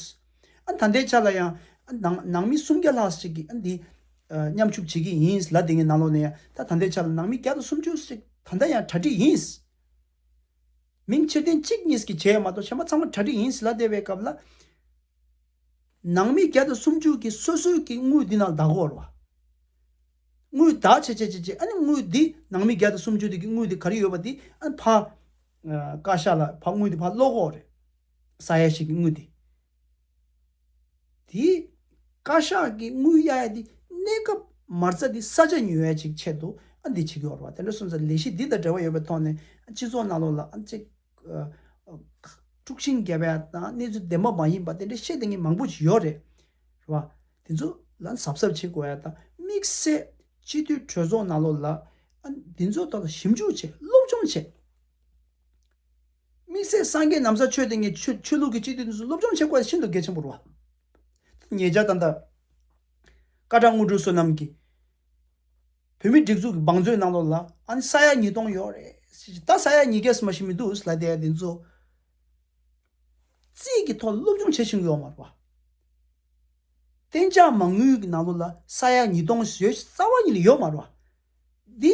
ད་ལྟའི་ཆ་ལ་ཡང། ནང་མི་སུམ་བརྒྱ་ལྷག་ཅིག་གིས་འདི། མཉམ་ཞུགས་བྱེད་ཀྱི་ཡིན་ལ་དེ་སྔའི་ནང་ལོགས་ནས་ཡང། ད་ལྟའི་ཆ་ལ་ནང་མི་བརྒྱ་དང་སུམ་ཅུ་ཞིག་ད་ལྟ་ཡང་གྲ་སྒྲིག་ཡིན། མིང་ཕྱིར་འཐེན་གཅིག་གཉིས་ཀྱིས་བྱས་ཡོད་མ་གཏོགས་བྱེ་མ་ཚང་མ་གྲ་སྒྲིག་ཡིན་ལ་དེ་བས་སྐབས་ལ། ནང་མི་བརྒྱ་དང་སུམ་ཅུ་གིས་སོ་སོའི་གི་དངུལ་འདི་ནང་བདག་བོར་བ། དངུལ་བདག་བྱེད་བྱེད་བྱེད་བྱེད་ཨ་ནི་དངུལ་འདི་ནང་མི་བརྒྱ་དང་སུམ་ཅུ་དེ་གི་དངུལ་འདི་ག་རེ་ཡོད་པ་འདི་ཨ་ནི་ཕ། བཀའ་ཤག་ལ་ཕ་དངུལ་འདི་ཕ་བློ་ཁོག་རེད། ས་གཡའ་ཞིག་གི་དངུལ་དེ། དེ། བཀའ་ཤག་གི་དངུལ་གཡའ་གཡའ་འདི་གནས་སྐབས་མར་རྩ་འདི་ས་ཆ་ཉུལ་བའི་ཅིག་ཆེད་དུ་ཨ་འདི་བྱེད་ཀྱི་འོར་བ་དེ་འདྲ་སོང་ཚེ་ལས་གཞི་འདི་དང་འབྲེལ་བ་ཡོད་པའི་ཐོག་ནས་སྤྱི་ཚོགས་ནང་ལོག་ལ་ཨ་ཅིག། དཀྲུགས་ཤིང་རྒྱབ་པའི་དང་གནས་ཚུལ་བདེན་པ་མ་ཡིན་པ་དེ་འདྲ་བཤད་ལྡིང་གི་མང་པོ་ཞིག་ཡོད་རེད། རེད་བ། དེ་ཚོ་ལ་གཟབ་གཟབ་བྱེད་དགོས་ཡ་དང་དམིགས་བསལ་སྤྱི་འཐུས་གྲོས་ཚོགས་ནང་ལོག་ལ་ཨ་འདི་ཚོའི་ཐོག་ལ་ཞིབ་འཇུག་བྱེད་སློབ་སྦྱོང་བྱེད། དམིགས་བསལ་སངས་རྒྱས་ནམ་ཟ་ཆོས་ལྡན་གྱི་ཆོས་ལུགས་ཀྱི་སྤྱི་འཐུས་འདི་ཚོ་སློབ་སྦྱོང་བྱེད་དགོས་ས་ཤིན་ཏུ་གལ་ཆེན་པོ་རུ་བ། ངེད་ཅག་དང་ཐར་བཀའ་དྲང་དངོས་གྲུབ་བསོད་ནམས་ཀྱིས་བོད་མིའི་སྒྲིག་འཛུགས་ཀྱི་བང་མཛོད་ནང་ལོགས་ལ་ཨང་ས་ཡ་ཉིས་སྟོང་ཡོད་རེད་ཟེར་གྱི་ད་ས་ཡ་ཉིས་བརྒྱ་སུ་མ་ཞིག་མི་འདུག་ལ་དེ་འདི་ཚོ་རྩིས་ཀྱི་ཐོག་སློབ་སྦྱོང་བྱེད་བཞིན་ཡོད་མ་རུ་བ། གཏན་འཇགས་མ་དངུལ་གྱི་ནང་ལོགས་ལ་ས་ཡ་ཉིས་སྟོང་ཞེས་རྩ་བ་ཉིད་ལ་ཡོད་མ་རུ་བ། འདི།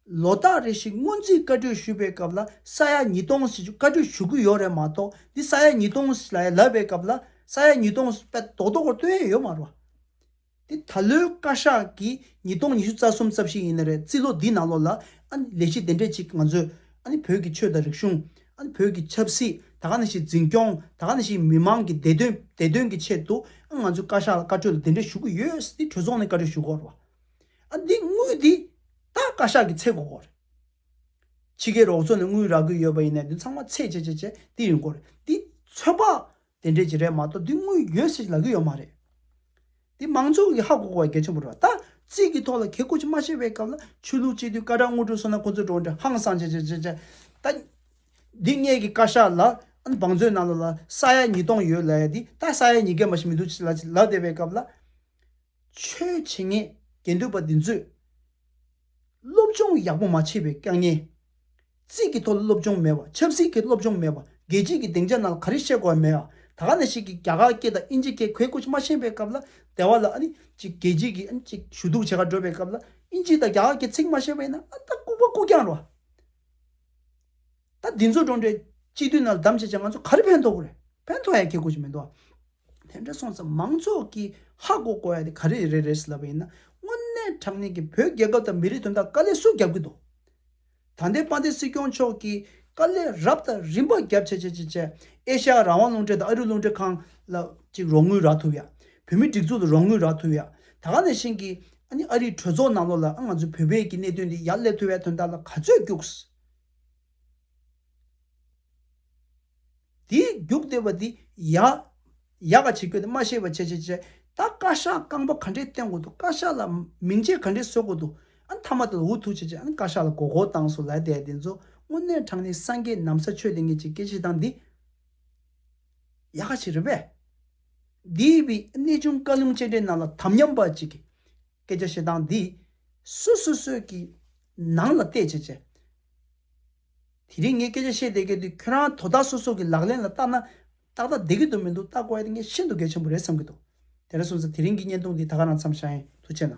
ལོ་རྟགས་རེ་ཞིག་སྔོན་རྩིས་བཀའ་གྲོས་ཞུ་བའི་སྐབས་ལ་ས་ཡ་ཉིས་སྟོང་ཞེས་བཀའ་གྲོས་ཞུ་གི་ཡོད་རེད་མ་གཏོགས་འདི་ས་ཡ་ཉིས་སྟོང་ཞེས་ལ་ཡ་ལབ་པའི་སྐབས་ལ་ས་ཡ་ཉིས་སྟོང་ཞེས་དཔེ་རྡོག་རྡོག་པོར་སྟོན་ཡས་ཡོད་མ་རུང། འདི་ད་ལོའི་བཀའ་ཤག་གིས་ཉིས་སྟོང་ཉི་ཤུ་རྩ་གསུམ་རྩ་བཞི་ཡིན་ནི་རེད་རྩིས་ལོ་འདིའི་ནང་ལོ་ལ་ཨ་ནི་ལས་གཞི་དེ་འདྲས་ཅིག་ང་ཚོས་ཨ་ནི་བོད་ཀྱི་ཆོས་དང་རིག་གཞུང་ཨ་ནི་བོད་ཀྱི་ཆབ་སྲིད་ད་ག་ནས་ཞིག་འཛིན་སྐྱོང་ད་ག་ནས་ཞིག་མི་མང་གི་བདེ་དོན་བདེ་དོན་གྱི་ཆེད་དུ་ཨ་ང་ཚོས་བཀའ་ཤག་ལ་བཀའ་གྲོས་ལ་དེ་འདྲས་ཞུ་གི་ཡོད་འདི་གྲོས་ཚོགས་ནས་བཀའ་གྲོས་ཞུ་དགོས་རེད། ཨ། འདི་དངུལ་འདི་ད་བཀའ་ཤག་གི་ཚེ་གོ་གོ་རེད། ཕྱི་རྒྱལ་རོགས་ཚོ་ནས་དངུལ་རག་གི་ཡོད་པ་ཡིན་ནའི་དེ་ཚང་མ་ཚེ་བྱས་བྱས་བྱས་དེ་ཡིན་གོ་རེད། འདི་ཚོད་དཔག་དེ་འདྲས་ཀྱི་རེད་མ་གཏོགས་འདི་དངུལ་ཡོད་ཟེར་གྱི་ལབ་གི་ཡོད་མ་རེད། འདི་མང་ཚོགས་ཀྱི་ཧ་གོ་གོ་བ་གལ་ཆེན་པོ་རེད་བ། ད་རྩིས་ཀྱི་ཐོག་ལ་གལ་གོ་ཆེན་མ་ཤེས་པའི་སྐབས་ལ་ཆོས་ལུགས་སྤྱི་འཐུས་བཀའ་ཁྲག་དངུལ་གྲོན་སོང་ན་ཁོང་ཚོའི་འགྲོ་འདྲ་ཧང་སང་བྱས་བྱས་བྱས་བྱས་ད། འདི་སྔས་ཀྱི་བཀའ་ཤག་ལ་ཨ་བང་མཛོད་ནང་ལ་ལ་ས་ཡ་ཉིས་སྟོང་ཡོད་ལ་ཡ་འདི་ད་ས་ཡ་ཉིས་བརྒྱ་མ་ཞིག་མི་འདུག་ཅེས་ལབ་བསྡད་པའི་སྐབས་ལ། ཆོས་བྱེད་ངན་དགེ་འདུན་པ་འདི་ཚོས། སློབ་སྦྱོང་ཡག་པོ་མ་བྱས་པའི་སྐྱག་ཉལ། རྩིས་ཀྱི་ཐོག་སློབ་སྦྱོང་མེད་པ་ཆབ་སྲིད་ཀྱི་སློབ་སྦྱོང་མེད་པ་རྒྱལ་སྤྱིའི་གི་སྡིངས་ཆ་ནང་ལ་ག་རེ་བཤད་དགོས་བ་མེད་ཨ་ད་ག་ནས་ཤིག་གི་རྒྱ་གར་སྐད་དང་དབྱིན་ཇི་སྐད་གོས་སྐུ་མ་ཤེས་པའི་སྐབས་ལ་དེ་བ་ལ་ཨ་ནི་ཅིག་རྒྱལ་སྤྱིའི་གི་ཨ་ནི་ཅིག་ཞུ་གཏུག་བྱེད་ག་འགྲོ་བའི་སྐབས་ལ་དབྱིན་ཇི་དང་རྒྱ་གར་གི་ཚིག་མ་ཤེས་པས་ན་ཨ་ད་ལྐུགས་པ་ལྐུགས་རྐྱང་རོ། ད་འདི་ཚོ་འགྲོ་འདྲའི་སྤྱི་འཐུས་རྣམས་བདམས་བྱས་བྱས་ང་ཚོ་ག་རེ་ཕན་ཐོག་གོ་རེད་ཕན་ཐོག་ཡ་སྐྱེ་དགོས་ཀྱི་མི་འདུག་དེ་འདྲ་སོང་ཙང་མང་ཚོགས་ཀྱི་ཧ་གོ་གོ་ཡ་དེ་ག་རེ་རེད་རེད་ཟེར་ལབ་པ་ཡིན་ན་དངོས་གནས་དྲང་གནས་ཀྱི་བོད་རྒྱལ་ཁབ་དང་མི་རིགས་དོན་དག་དཀའ་ལས་སུ་རྒྱབ་ཀྱི་འདུག་ད་ལྟའི་དཔའ་སྡེ་སྲིད་སྐྱོང་མཆོག་གིས་དཀའ་ལས་རབ་དང་རིམ་པ་རྒྱབ་བྱས་བྱས་བྱས་བྱས་ཨེ་ཤ་ཡ་རང་དབང་རླུང་འཕྲིན་དང་ཨ་རིའི་རླུང་འཕྲིན་ཁང་ལ་ཅིག་རོགས་དངུལ་རག་ཐུབ་ཡ་བོད་མི་སྒྲིག་འཛུགས་ལ་རོགས་དངུལ་རག་ཐུབ་ཡ་ད་ག་ནས་ཤེས་ཀྱི་ཨ་ནི་ཨ་རིའི་གྲོས་ཚོགས་ནང་ལོགས་ལ་ཨ་ང་ཚོའི་བོད་པའི་ཀྱི་གནད་དོན་འདི་ཡར་སླེབ་ཐུབ་ཡ་དོན་དག་ལ་ག་ཚོད་རྒྱུགས་དེའི་རྒྱུག་བདེ་བ་དེ་ཡག། ཡག་ག་བྱེད་ཁྱོད་དེ་མ་ཤེས་པ་ཆེ་ཆེ་ཆེ། ད་བཀའ་ཤག་རྐང་པ་ག་འདྲའི་བསྟན་དགོས་འདུག་བཀའ་ཤག་ལ་མིང་ཆད་ག་འདྲའི་གསོལ་དགོས་འདུག་ཨ་མཐའ་མ་དེ་ལ་འུ་ཐུག་བྱེད་བྱེད་ཨ་ནི་བཀའ་ཤག་ལ་མགོ་སྐོར་བཏང་སོང་ལད་ཟླའི་དེ་ཚོ་དངོས་གནས་དྲང་གནས་སངས་རྒྱས་ནམ་ས་ཆོས་དེ་ངེད་ཅིག་སྐད་ཆེ་སྟངས་འདི་ཡག་ག་བྱེད་རེད་པས། འདིའི་བི་གནས་ཆུང་བཀའ་ལུང་སྤྱན་འདྲེན་རྣམས་ལ་དམ་ཉམས་པ་ཅིག་གིས། སྐད་ཆ་བཤད་སྟངས་འདིས། སུ་སོ་སོས་ཀྱི་ནང་ལ་བལྟས་བྱས་བྱས། དེ་རིང་ངས་སྐད་ཆ་བཤད་བསྡད་སྐད་དེ་ཁྱོད་རང་དོ་བདག་སོ་སོ་ཀྱི་ལག་ལེན་ལ་བརྟག་ན། ཏག་ཏག་བསྡད་ཀྱི་འདུག་མི་འདུག་བརྟག་དགོས་ཡ་ངས་ཤིན་ཏུ་གལ་ཆེན་པོ་རེད་བསམ་གྱི་འདུག་དེ་འདྲ་སོང་ཚེ་དེ་རིང་གི་བརྙན་ཐུང་འདི་ད་ག་རང་འཚམས་ཤ་ཡིན་དུ་བྱས་ན།